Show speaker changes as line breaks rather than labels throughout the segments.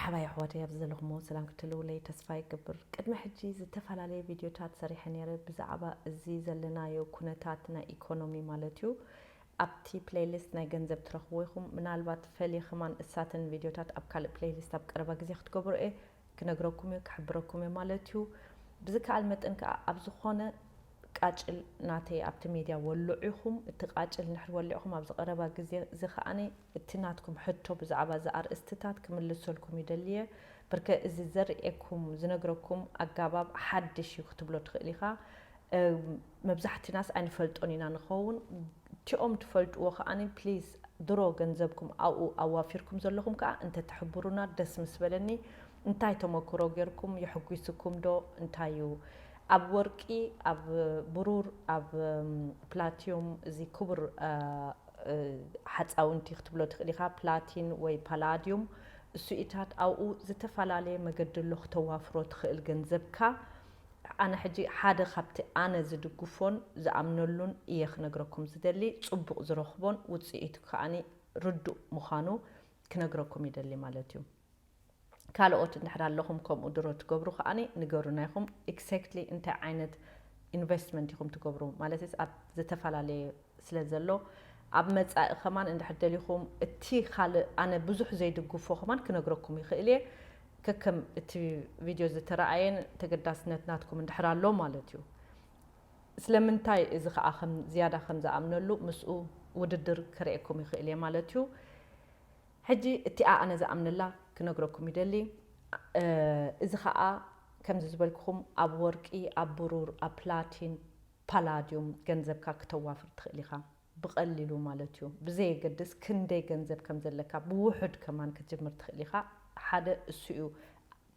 መርሓባ የሕዋተይ ኣብዚ ዘለኹሞ ሰላም ክትህልውለይ ተስፋ ይገብር ቅድሚ ሕጂ ዝተፈላለየ ቪድዮታት ሰሪሐ ኔረ ብዛዕባ እዚ ዘለናዮ ኩነታት ናይ ኢኮኖሚ ማለት እዩ ኣብቲ ፕለይሊስት ናይ ገንዘብ ትረኽብዎ ኢኹም ምናልባት ፈልየ ከማን እሳተን ቪድዮታት ኣብ ካልእ ፕለይሊስት ኣብ ቀረባ ግዜ ክትገብሮ እየ ክነግረኩም እየ ክሕብረኩም እየ ማለት እዩ ብዝከኣል መጠን ከኣ ኣብ ዝኾነ ቃጭል ናተይ ኣብቲ ሜድያ ወልዑ ኢኹም እቲ ቃጭል እንድሕር ወሊዕኹም ኣብዚ ቀረባ ግዜ እዚ ከኣ እቲ ናትኩም ሕቶ ብዛዕባ እዚ ኣርእስትታት ክምልሰልኩም ይደሊ'የ። ብርከ እዚ ዘርእየኩም፣ ዝነግረኩም፣ ኣጋባብ ሓድሽ እዩ ክትብሎ ትኽእል ኢኻ። መብዛሕትናስ ኣይንፈልጦን ኢና ንኸውን። እቲኦም ትፈልጥዎ ከኣ please ድሮ ገንዘብኩም ኣብኡ ኣዋፊርኩም ዘለኹም ከኣ እንተትሕብሩና ደስ ምስ በለኒ። እንታይ ተመክሮ ጌርኩም? የሕጒስኩም ዶ? እንታይ እዩ ኣብ ወርቂ፣ ኣብ ብሩር፣ ኣብ ፕላቲዩም እዚ ክቡር ሓጻውንቲ ክትብሎ ትኽእል ኢኻ፣ ፕላቲን ወይ ፓላዲዩም እሱኢታት ኣብኡ ዝተፋላለየ መገዲ ኣሎ ክተዋፍሮ ትኽእል ገንዘብካ። ኣነ ሕጂ ሓደ ካብቲ ኣነ ዝድግፎን ዝኣምነሉን እየ ክነግረኩም ዝደሊ፣ ጽቡቕ ዝረኽቦን ውጽኢቱ ከኣ ርዱእ ምዃኑ ክነግረኩም ይደሊ ማለት እዩ። ካልኦት እንድሕር ኣለኹም ከምኡ ድሮ ትገብሩ ከኣ ንገሩና ኢኹም ኢክሰክትሊ እንታይ ዓይነት ኢንቨስትመንት ኢኹም ትገብሩ ማለትስ ኣብ ዝተፈላለየ ስለ ዘሎ ኣብ መጻኢ ከማን እንድሕር ደሊኹም እቲ ካልእ ኣነ ብዙሕ ዘይድግፎ ከማን ክነግረኩም ይኽእል እየ ከከም እቲ ቪድዮ ዝተረኣየን ተገዳስነት ናትኩም እንድሕር ኣሎ ማለት እዩ ስለምንታይ እዚ ከዓ ከም ዝያዳ ከም ዝኣምነሉ ምስኡ ውድድር ከርእየኩም ይኽእል እየ ማለት እዩ ሕጂ እቲኣ ኣነ ዝኣምነላ ክነግረኩም ይደሊ እዚ ከኣ ከምዚ ዝበልኩኹም ኣብ ወርቂ ኣብ ብሩር ኣብ ፕላቲን ፓላድዩም ገንዘብካ ክተዋፍር ትኽእል ኢኻ ብቀሊሉ ማለት እዩ ብዘየገድስ ክንደይ ገንዘብ ከምዘለካ ብውሑድ ከማን ክትጅምር ትኽእል ኢኻ ሓደ እሱ እዩ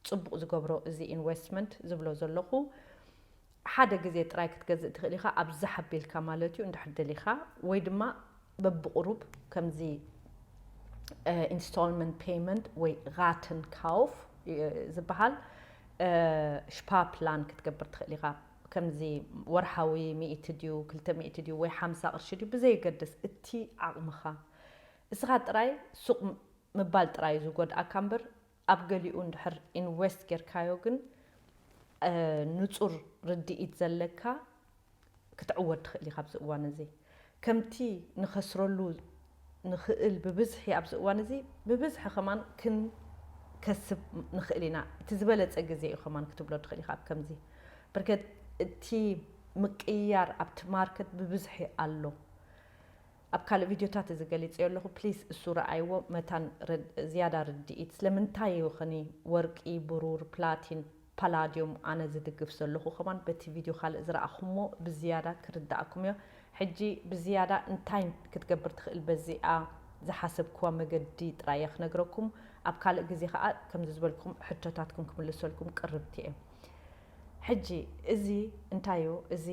ጽቡቕ ዝገብሮ እዚ ኢንወስትመንት ዝብሎ ዘለኹ ሓደ ግዜ ጥራይ ክትገዝእ ትኽእል ኢኻ ኣብዝሕ ኣቢልካ ማለት እዩ እንድሕር ደሊኻ ወይ ድማ በብቑሩብ ከምዚ ኢንስቶልመንት ፔይመንት ወይ ራትን ካውፍ ዝበሃል ሽፓ ፕላን ክትገብር ትኽእል ኢኻ ከምዚ ወርሓዊ ሚእቲ ድዩ ክልተ ሚእቲ ድዩ ወይ ሓምሳ ቅርሺ ድዩ ብዘየገድስ እቲ ዓቕምኻ እስኻ ጥራይ ሱቕ ምባል ጥራይ እዩ ዝጎድኣካ እምበር ኣብ ገሊኡ እንድሕር ኢንዌስት ጌርካዮ ግን ንጹር ርድኢት ዘለካ ክትዕወት ትኽእል ኢኻ ኣብዚ እዋን እዚ ከምቲ ንኸስረሉ ንኽእል ብብዝሒ ኣብዚ እዋን እዚ ብብዝሒ ከማን ክንከስብ ንኽእል ኢና እቲ ዝበለጸ ግዜ እዩ ከማን ክትብሎ ትኽእል ኢኻ ኣብ ከምዚ ብርከት እቲ ምቅይያር ኣብቲ ማርኬት ብብዝሒ ኣሎ። ኣብ ካልእ ቪድዮታት እዚ ገሊጸዮ ኣለኹ ፕሊስ እሱ ረኣይዎ መታን ዝያዳ ርድኢት ስለምንታይ እዩ ኽኒ ወርቂ ብሩር ፕላቲን ፓላድዮም ኣነ ዝድግፍ ዘለኹ ከማን በቲ ቪድዮ ካልእ ዝረኣኹሞ ብዝያዳ ክርደኣኩም እዮ ሕጂ ብዝያዳ እንታይ ክትገብር ትኽእል በዚኣ ዝሓሰብክዋ መገዲ ጥራይ እየ ክነግረኩም ኣብ ካልእ ግዜ ኸኣ ከምዚ ዝበልኩም ሕቶታትኩም ክምልሰልኩም ቅርብቲ እየ ሕጂ እዚ እንታይ እዩ እዚ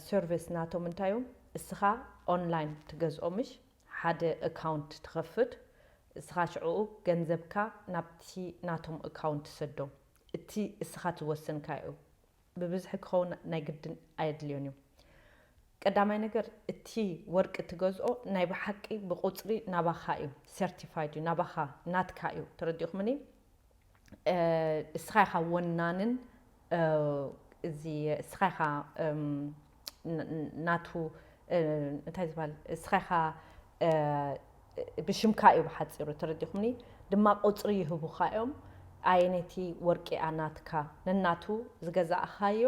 ሰርቪስ ናቶም እንታይ እዩ እስኻ ኦንላይን ትገዝኦ ምሽ ሓደ እካውንት ትኸፍት እስኻ ሽዕኡ ገንዘብካ ናብቲ ናቶም እካውንት ትሰዶ እቲ እስኻ ዝወሰንካዮ እዩ ብብዝሒ ክኸውን ናይ ግድን ኣየድልዮን እዩ ቀዳማይ ነገር እቲ ወርቂ ትገዝኦ ናይ ብሓቂ ብቁጽሪ ናባኻ እዩ ሰርቲፋይድ እዩ ናባኻ ናትካ እዩ ተረዲእኹምኒ እስኻ ኢኻ ወናንን እዚ እስኻ ኢኻ ናቱ እንታይ ዝባል እስኻ ኢኻ ብሽምካ እዩ ብሓፂሩ ተረዲኹምኒ ድማ ቁፅሪ ይህቡኻ እዮም ኣየነይቲ ወርቂ እያ ናትካ ነናቱ ዝገዛእኻዮ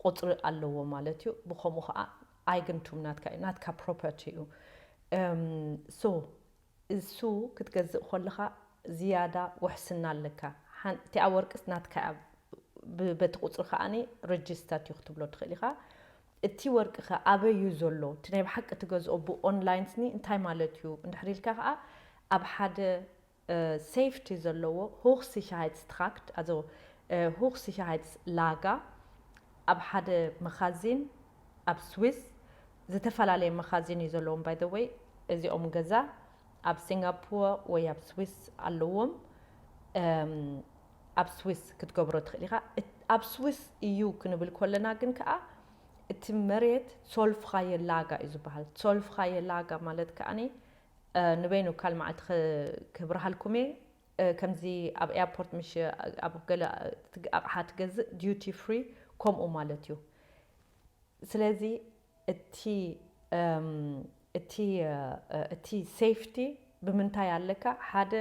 ቁፅሪ ኣለዎ ማለት እዩ ብከምኡ ከዓ ኣይግንቱም ናትካ እዩ ናትካ ፕሮፐርቲ እዩ ሶ እሱ ክትገዝእ ኮለኻ ዝያዳ ውሕስና ኣለካ ሓን እቲኣ ወርቅስ ናትካ እያ ብ በቲ ቁጽሪ ከኣ ረጅስታት እዩ ክትብሎ ትኽእል ኢኻ እቲ ወርቂ ከ ኣበይ እዩ ዘሎ እቲ ናይ ብሓቂ ትገዝኦ ብ online ስኒ እንታይ ማለት እዩ እንድሕር ኢልካ ከኣ ኣብ ሓደ safety ዘለዎ Hochsicherheitstrakt also Hochsicherheitslager ኣብ ሓደ መኻዚን ኣብ ስዊስ ዝተፈላለየ መኻዚን እዩ ዘለዎም ባይ ዘ ወይ እዚኦም ገዛ ኣብ ሲንጋፖር ወይ ኣብ ስዊስ ኣለዎም እም ኣብ ስዊስ ክትገብሮ ትኽእል ኢኻ እት- ኣብ ስዊስ እዩ ክንብል ኮለና ግን ከኣ እቲ መሬት ሶልፍኻየ ላጋ እዩ ዝበሃል ሶልፍኻየ ላጋ ማለት ከኣ እ፣ ንበይኑ ካል መዓልቲ ክ- ክብርሃልኩም እየ ከምዚ ኣብ ኤያፖርት ምሽ ኣብ ገለ ኣቕሓ ትገዝእ ዲዩቲ ፍሪ ኮምኡ ማለት እዩ ስለዚ እቲ እቲ እቲ ሴፍቲ ብምንታይ ኣለካ ሓደ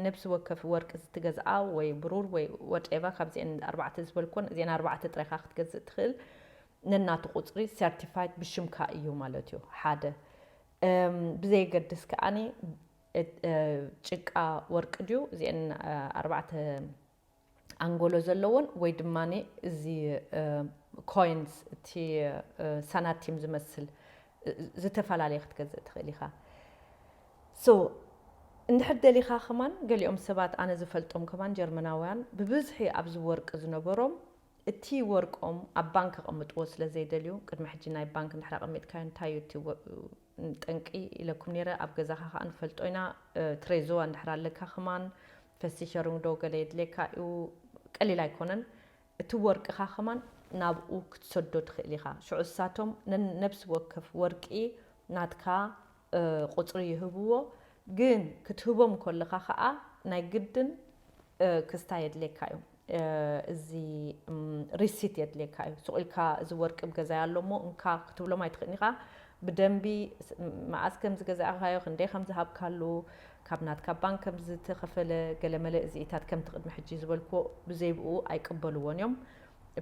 ነብሲ ወከፍ ወርቂ ዝትገዝኣ ወይ ብሩር ወይ ወትኤቨር ካብዚኤን ኣርባዕተ ዝበልኮን እዚኤን ኣርባዕተ ጥራይ ኢኻ ክትገዝእ ትኽእል ነናቱ ቁጽሪ ሰርቲፋይት ብሽምካ እዩ ማለት እዩ ሓደ ብዘየገድስ ከኣኒ ጭቃ ወርቂ ድዩ እዚኤን ኣርባዕተ ኣንጎሎ ዘለዎን ወይ ድማ እዚ ኮይንስ እቲ ሳናቲም ዝመስል ዝተፈላለየ ክትገዝእ ትኽእል ኢኻ ሶ እንድሕር ደሊኻ ከማን ገሊኦም ሰባት ኣነ ዝፈልጦም ከማን ጀርመናውያን ብብዝሒ ኣብዚ ወርቂ ዝነበሮም እቲ ወርቆም ኣብ ባንክ ከቐምጥዎ ስለ ዘይደልዩ ቅድሚ ሕጂ ናይ ባንክ እንድሕር ኣቐሚጥካዮ እንታይ እዩ እቲ ጠንቂ ኢለኩም ኔረ ኣብ ገዛኻ ከኣ ንፈልጦ ኢና ትሬዞ ኣንድሕር ኣለካ ከማን ፈሲሸሩንግ ዶ ገለ የድልየካ እዩ ቀሊል ኣይኮነን እቲ ወርቅኻ ከማን ናብኡ ክትሰዶ ትኽእል ኢኻ ሽዑ እሳቶም ነነብሲ ወከፍ ወርቂ ናትካ ቁጽሪ ይህብዎ ግን ክትህቦም ኮለኻ ከኣ ናይ ግድን ክስታ የድልየካ እዩ እዚ ሪሲት የድልየካ እዩ ሱቅ ኢልካ እዚ ወርቂ ኣብ ገዛይ ኣሎ እሞ እንካ ክትብሎም ኣይትክእልን ኢካ ብደንቢ መኣስ ከም ዝገዛእካዮ ክንደይ ከም ዝሃብካሉ ካብ ናትካ ባንክ ከም ዝተከፈለ ገለመለ እዚኢታት ከምቲ ቅድሚ ሕጂ ዝበልክዎ ብዘይብኡ ኣይቅበልዎን እዮም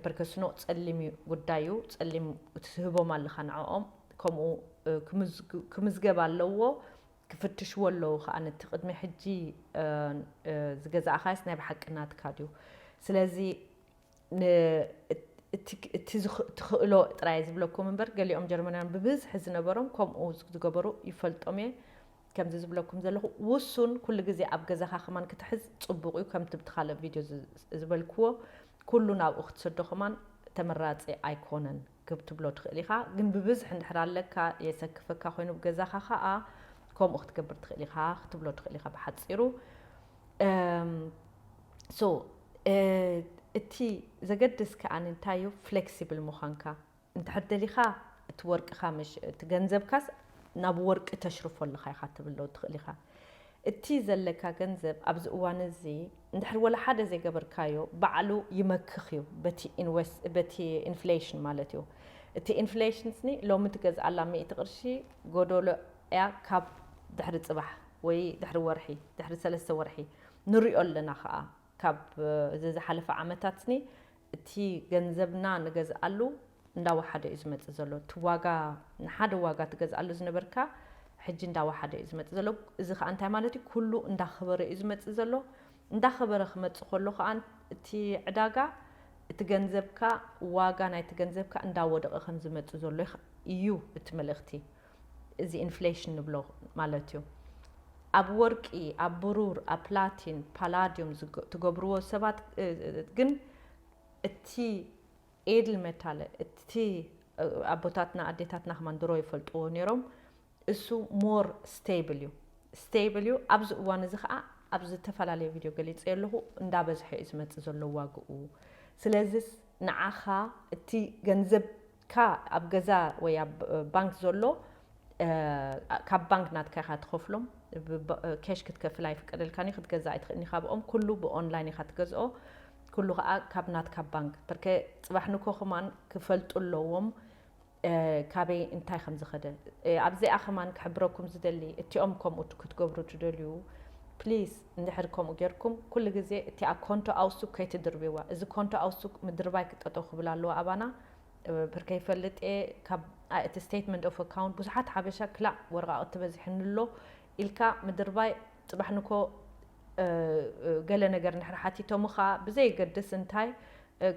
ፐርከስኖ ጸሊም እዩ ጉዳዩ ጸሊም ትህቦም ኣለካ ንዕኦም ከምኡ ክምዝገብ ኣለዎ ክፍትሽዎ ኣለዉ ከኣ ነቲ ቅድሚ ሕጂ ዝገዛእካዮስ ናይ ብሓቂ ናትካ ድዩ ስለዚ ን እቲ እቲ ትኽእሎ ጥራይ ዝብለኩም እምበር ገሊኦም ጀርመናውያን ብብዝሒ ዝነበሮም ከምኡ ዝገበሩ ይፈልጦም እየ ከምዚ ዝብለኩም ዘለኹ ውሱን ኩሉ ግዜ ኣብ ገዛኻ ከማን ክትሕዝ ጽቡቕ እዩ ከምቲ ብቲ ካልእ ቪድዮ ዝበልክዎ ኩሉ ናብኡ ክትሰዶ ከማን ተመራጺ ኣይኮነን ክትብሎ ትኽእል ኢኻ ግን ብብዝሒ እንድሕር ኣለካ የሰክፈካ ኮይኑ ኣብ ገዛኻ ኻኣ ከምኡ ክትገብር ትኽእል ኢኻ ክትብሎ ትኽእል ኢኻ ብሓጺሩ ሶ እቲ ዘገድስ ከኣ እንታይ እዩ ፍሌክሲብል ምዃንካ እንድሕር ደሊኻ እቲ ወርቅኻ እቲ ገንዘብካስ ናብ ወርቂ ተሽርፎ ኣለኻ ኢኻ ክትብሎ ትኽእል ኢኻ እቲ ዘለካ ገንዘብ ኣብዚ እዋን እዚ እንድሕር ወላ ሓደ ዘይገበርካዮ ባዕሉ ይመክኽ እዩ በቲ ኢንወስ በቲ ኢንፍሌሽን ማለት እዩ እቲ ኢንፍሌሽን ስኒ ሎሚ ትገዝኣላ ሚእቲ ቅርሺ ጎዶሎ እያ ካብ ድሕሪ ጽባሕ ወይ ድሕሪ ወርሒ ድሕሪ ሰለስተ ወርሒ ንሪኦ ኣለና ከኣ ካብ እዚ ዝሓለፈ ዓመታትኒ እቲ ገንዘብና ንገዝኣሉ እንዳወሓደ እዩ ዝመፅእ ዘሎ። እቲ ዋጋ ንሓደ ዋጋ ትገዝኣሉ ዝነበርካ ሕጂ እንዳወሓደ እዩ ዝመፅእ ዘሎ። እዚ ከዓ እንታይ ማለት እዩ ኩሉ እንዳኸበረ እዩ ዝመፅእ ዘሎ። እንዳኸበረ ክመፅእ ከሎ ከዓ እቲ ዕዳጋ እቲ ገንዘብካ ዋጋ ናይቲ ገንዘብካ እንዳወደቐ ከምዝመፅእ ዘሎ እዩ እቲ መልእኽቲ። እዚ ኢንፍሌሽን ንብሎ ማለት እዩ። ኣብ ወርቂ፣ ኣብ ብሩር፣ ኣብ ፕላቲን፣ ፓላድዩም ትገብርዎ ሰባት ግን እቲ ኤድል መታለ እቲ ኣቦታትና ኣዴታትና ከማን ድሮ ይፈልጥዎ ነይሮም እሱ ሞር ስቴብል እዩ ስቴብል እዩ ኣብዚ እዋን እዚ ከዓ ኣብ ዝተፈላለየ ቪድዮ ገሊፀ ኣለኹ እንዳበዝሐ እዩ ዝመፅእ ዘሎ ዋግኡ ስለዚስ ንዓኻ እቲ ገንዘብ ካ ኣብ ገዛ ወይ ኣብ ባንክ ዘሎ ካብ ባንክ ናትካ ኢካ ትከፍሎም ብኬሽ ክትከፍል ኣይፍቀደልካን እዩ ክትገዝእ ኣይትክእልን ኢካ ብኦም ኩሉ ብኦንላይን ኢካ ትገዝኦ ኩሉ ከኣ ካብ ናትካ ባንክ በርከ ጽባሕ ንኮ ከማን ክፈልጡ ኣለዎም ካበይ እንታይ ከም ዝከደ ኣብዚኣ ከማን ክሕብረኩም ዝደሊ እቲኦም ከምኡ ክትገብሩ ትደልዩ ፕሊስ እንድሕር ከምኡ ጌርኩም ኩሉ ግዜ እቲኣ ኮንቶ ኣውሱክ ከይትድርብዋ እዚ ኮንቶ ኣውሱክ ምድርባይ ክጠጠው ክብል ኣለዎ ኣባና ብርከይ ይፈልጥ እየ ካብ ኣእቲ ስቴትመንት ኦፍ ኣካውንት ብዙሓት ሓበሻ ክላእ ወረቃቅቲ በዚሕኒ ኣሎ ኢልካ ምድርባይ ፅባሕ ንኮ ገለ ነገር እንድሕር ሓቲቶምኻ ብዘየገድስ እንታይ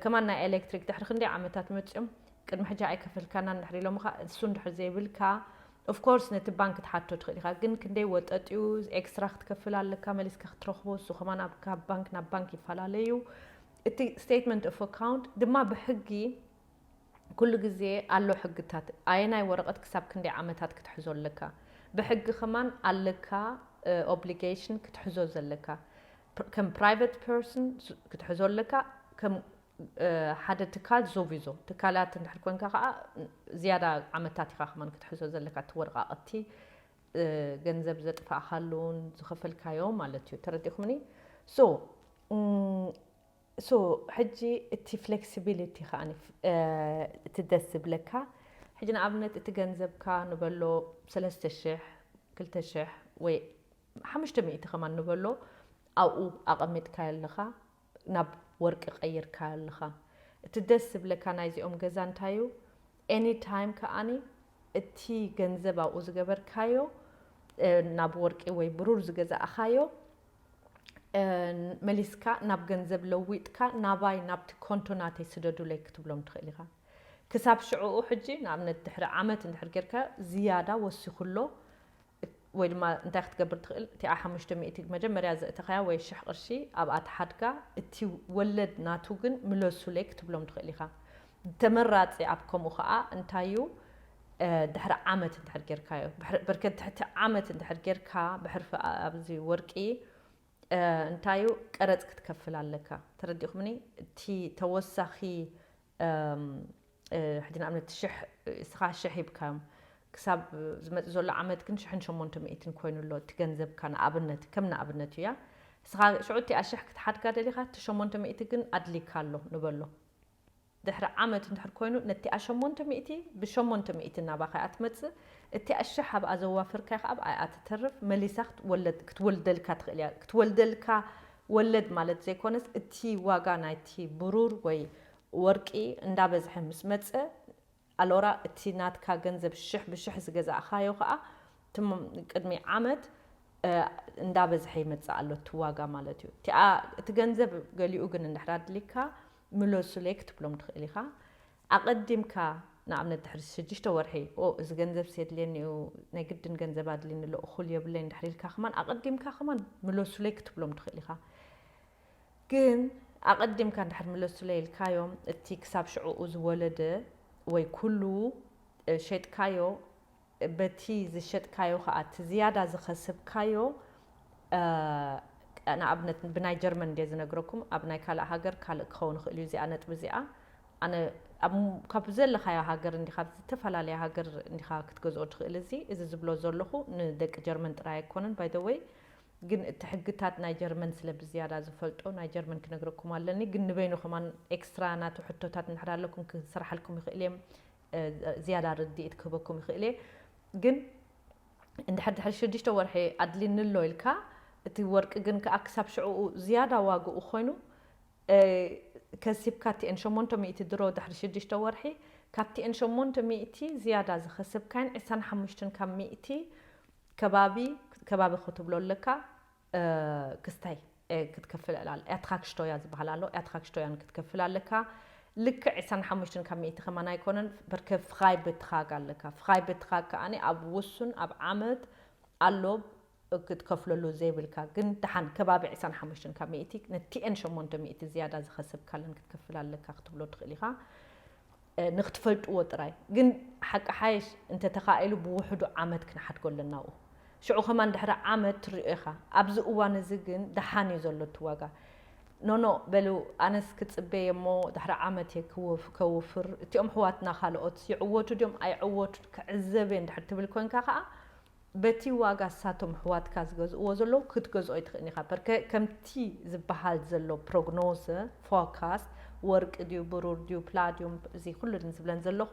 ከማን ናይ ኤሌክትሪክ ድሕሪ ክንደይ ዓመታት መፅኦም ቅድሚ ሕጂ ኣይከፈልካናን እንድሕር ኢሎምኻ እሱ እንድሕር ዘይብልካ ኦፍ ኮርስ ነቲ ባንክ ትሓቶ ትኽእል ኢኻ ግን ክንደይ ወጠጢኡ ኤክስትራ ክትከፍል ኣለካ መሊስካ ክትረኽቦ እሱ ከማን ካብ ባንክ ናብ ባንክ ይፈላለዩ እቲ Statement of Account ድማ ብሕጊ ኩሉ ግዜ ኣሎ ሕግታት ኣየናይ ወረቀት ክሳብ ክንደይ ዓመታት ክትሕዞ ኣለካ ብሕጊ ከማን ኣለካ Obligation ክትሕዞ ዘለካ ከም Private Person ክትሕዞ ኣለካ ከም ሓደ ትካል ዞቪዞ ትካላት እንድሕር ኮንካ ከኣ ዝያዳ ዓመታት ኢካ ከማን ክትሕዞ ዘለካ እቲ ወረቃቅቲ ገንዘብ ዘጥፋእካሉ ዝኸፈልካዮ ማለት እዩ ተረዲእኩምኒ so so ሕጂ እቲ flexibility ከኣ እቲ ደስ ዝብለካ ሕጂ ንኣብነት እቲ ገንዘብካ ንበሎ ሰለስተ ሽሕ ክልተ ሽሕ ወይ ሓሙሽተ ሚእቲ ከማን ንበሎ ኣብኡ ኣቐሚጥካዮ ኣለኻ ናብ ወርቂ ቀይርካዮ ኣለኻ እቲ ደስ ዝብለካ ናይዚኦም ገዛ እንታይ እዩ any time ከኣ እቲ ገንዘብ ኣብኡ ዝገበርካዮ ናብ ወርቂ ወይ ብሩር ዝገዛእኻዮ መሊስካ ናብ ገንዘብ ለዊጥካ ናባይ ናብቲ ኮንቶ ናተይ ስደዱለይ ክትብሎም ትኽእል ኢኻ ክሳብ ሽዕኡ ሕጂ ንኣብነት ድሕሪ ዓመት እንድሕር ጌርካዮ ዝያዳ ወሲኹ ኣሎ ወይ ድማ እንታይ ክትገብር ትኽእል እቲኣ ሓሙሽተ ሚእቲ መጀመርያ ዘእተኻያ ወይ ሽሕ ቅርሺ ኣብኣ ትሓድጋ እቲ ወለድ ናቱ ግን ምለሱለይ ክትብሎም ትኽእል ኢኻ ተመራጺ ኣብ ከምኡ ኸኣ እንታይ እዩ ድሕሪ ዓመት እንድሕር ጌርካዮ ብርከት ትሕቲ ዓመት እንድሕር ጌርካ ብሕርፊ ኣብዚ ወርቂ እንታይ እዩ ቀረጽ ክትከፍል ኣለካ ተረዲእኩምኒ እቲ ተወሳኺ ሕጂ ንኣብነት ሽሕ እስኻ ሽሕ ሂብካዮም ክሳብ ዝመጽእ ዘሎ ዓመት ግን ሽሕን ሸሞንተ ሚእትን ኮይኑ ኣሎ እቲ ገንዘብካ ንኣብነት ከም ንኣብነት እያ እስኻ ሽዑ እቲኣ ሽሕ ክትሓድጋ ደሊኻ እቲ ሸሞንተ ሚእቲ ግን ኣድሊካ ኣሎ ንበሎ ድሕሪ ዓመት እንድሕር ኮይኑ ነቲኣ ሸሞንተ ሚእቲ ብሸሞንተ ሚእቲ ናባኻ እያ ትመጽእ እቲኣ ሽሕ ኣብኣ ዘዋፈርካያ ከዓ ኣብኣ እያ ትተርፍ መሊሳ ክትወልደልካ ትኽእል እያ ክትወልደልካ ወለድ ማለት ዘይኮነስ እቲ ዋጋ ናይቲ ብሩር ወይ ወርቂ እንዳበዝሐ ምስ መጸ ኣሎራ እቲ ናትካ ገንዘብ ሽሕ ብሽሕ ዝገዛእኻዮ ከኣ ትም ቅድሚ ዓመት እንዳበዝሐ ይመጽእ ኣሎ እቲ ዋጋ ማለት እዩ እቲኣ እቲ ገንዘብ ገሊኡ ግን እንድሕር ኣድሊካ ምለሱለይ ክትብሎም ትኽእል ኢኻ ኣቐዲምካ ንኣብነት ድሕሪ ሽዱሽተ ወርሒ ኦ እዚ ገንዘብሲ የድልየኒ እዩ ናይ ግድን ገንዘብ ኣድልይኒ ኣሎ እኹል የብለይን ድሕሪ ኢልካ ከማን ኣቐዲምካ ከማን ምለሱለይ ክትብሎም ትኽእል ኢኻ ግን ኣቐዲምካ ድሕሪ ምለሱለይ ኢልካዮም እቲ ክሳብ ሽዑኡ ዝወለደ ወይ ኩሉ ሸጥካዮ በቲ ዝሸጥካዮ ከኣ እቲ ዝያዳ ዝኸስብካዮ ንኣብነት ብናይ ጀርመን እንድየ ዝነግረኩም ኣብ ናይ ካልእ ሃገር ካልእ ክኸውን ይኽእል እዩ እዚኣ ነጥቢ እዚኣ ኣነ ኣብ ካብ ዘለኻዮ ሃገር እንዲኻ ኣብ ዝተፈላለየ ሃገር እንዲኻ ክትገዝኦ ትኽእል እዚ እዚ ዝብሎ ዘለኹ ንደቂ ጀርመን ጥራይ ኣይኮነን ባይ ዘ ወይ ግን እቲ ሕግታት ናይ ጀርመን ስለ ብዝያዳ ዝፈልጦ ናይ ጀርመን ክነግረኩም ኣለኒ ግን ንበይኑ ከማን ኤክስትራ ናቱ ሕቶታት እንድሕር ኣለኩም ክስራሓልኩም ይኽእል እየ ዝያዳ ርድኢት ክህበኩም ይኽእል እየ ግን እንድሕር ድሕሪ ሽዱሽተ ወርሒ ኣድሊኒ ኣሎ ኢልካ እቲ ወርቂ ግን ከኣ ክሳብ ሽዕኡ ዝያዳ ዋግኡ ኮይኑ ከሲብካ እቲኤን ሸሞንተ ሚእቲ ድሮ ድሕሪ ሽዱሽተ ወርሒ ካብቲኤን ሸሞንተ ሚእቲ ዝያዳ ዝኸሰብካየን ዕስራን ሓሙሽትን ካብ ሚእቲ ከባቢ ከባቢ ክትብሎ ኣለካ ክስታይ ክትከፍል ኣል ኣትራክሽቶያ ዝበሃል ኣሎ ኣትራክሽቶያን ክትከፍል ኣለካ ልክዕ ዕስራን ሓሙሽተን ካብ ሚእቲ ከማን ኣይኮነን በርከ ፍራይ በትራግ ኣለካ ፍራይ በትራግ ከኣኒ ኣብ ውሱን ኣብ ዓመት ኣሎ ክትከፍለሉ ዘይብልካ ግን ደሓን ከባቢ ዕስራን ሓሙሽተን ካብ ሚእቲ ነቲኤን ሸሞንተ ሚእቲ ዝያዳ ዝኸሰብካለን ክትከፍል ኣለካ ክትብሎ ትኽእል ኢኻ ንክትፈልጥዎ ጥራይ ግን ሓቂ ሓይሽ እንተ ተኻኢሉ ብውሕዱ ዓመት ክንሓድጎ ኣለና ኣብኡ ሽዑ ከማን ድሕሪ ዓመት ትሪኦ ኢኻ ኣብዚ እዋን እዚ ግን ደሓን እዩ ዘሎ እቲ ዋጋ ኖኖ በሉ ኣነስ ክጽበየ እሞ ድሕሪ ዓመት እየ ከውፍር እቲኦም ኣሕዋትና ካልኦትስ ይዕወቱ ድዮም ኣይዕወቱን ክዕዘብ እየ እንድሕር ትብል ኮንካ ከኣ በቲ ዋጋ እሳቶም ኣሕዋትካ ዝገዝእዎ ዘለዉ ክትገዝኦ ኣይትኽእልን ኢኻ። ፐርከ ከምቲ ዝበሃል ዘሎ ፕሮግኖዘ፣ ፎርካስት፣ ወርቂ ድዩ ብሩር ድዩ ፕላድዩም እዚ ኩሉ ዝብለን ዘለኹ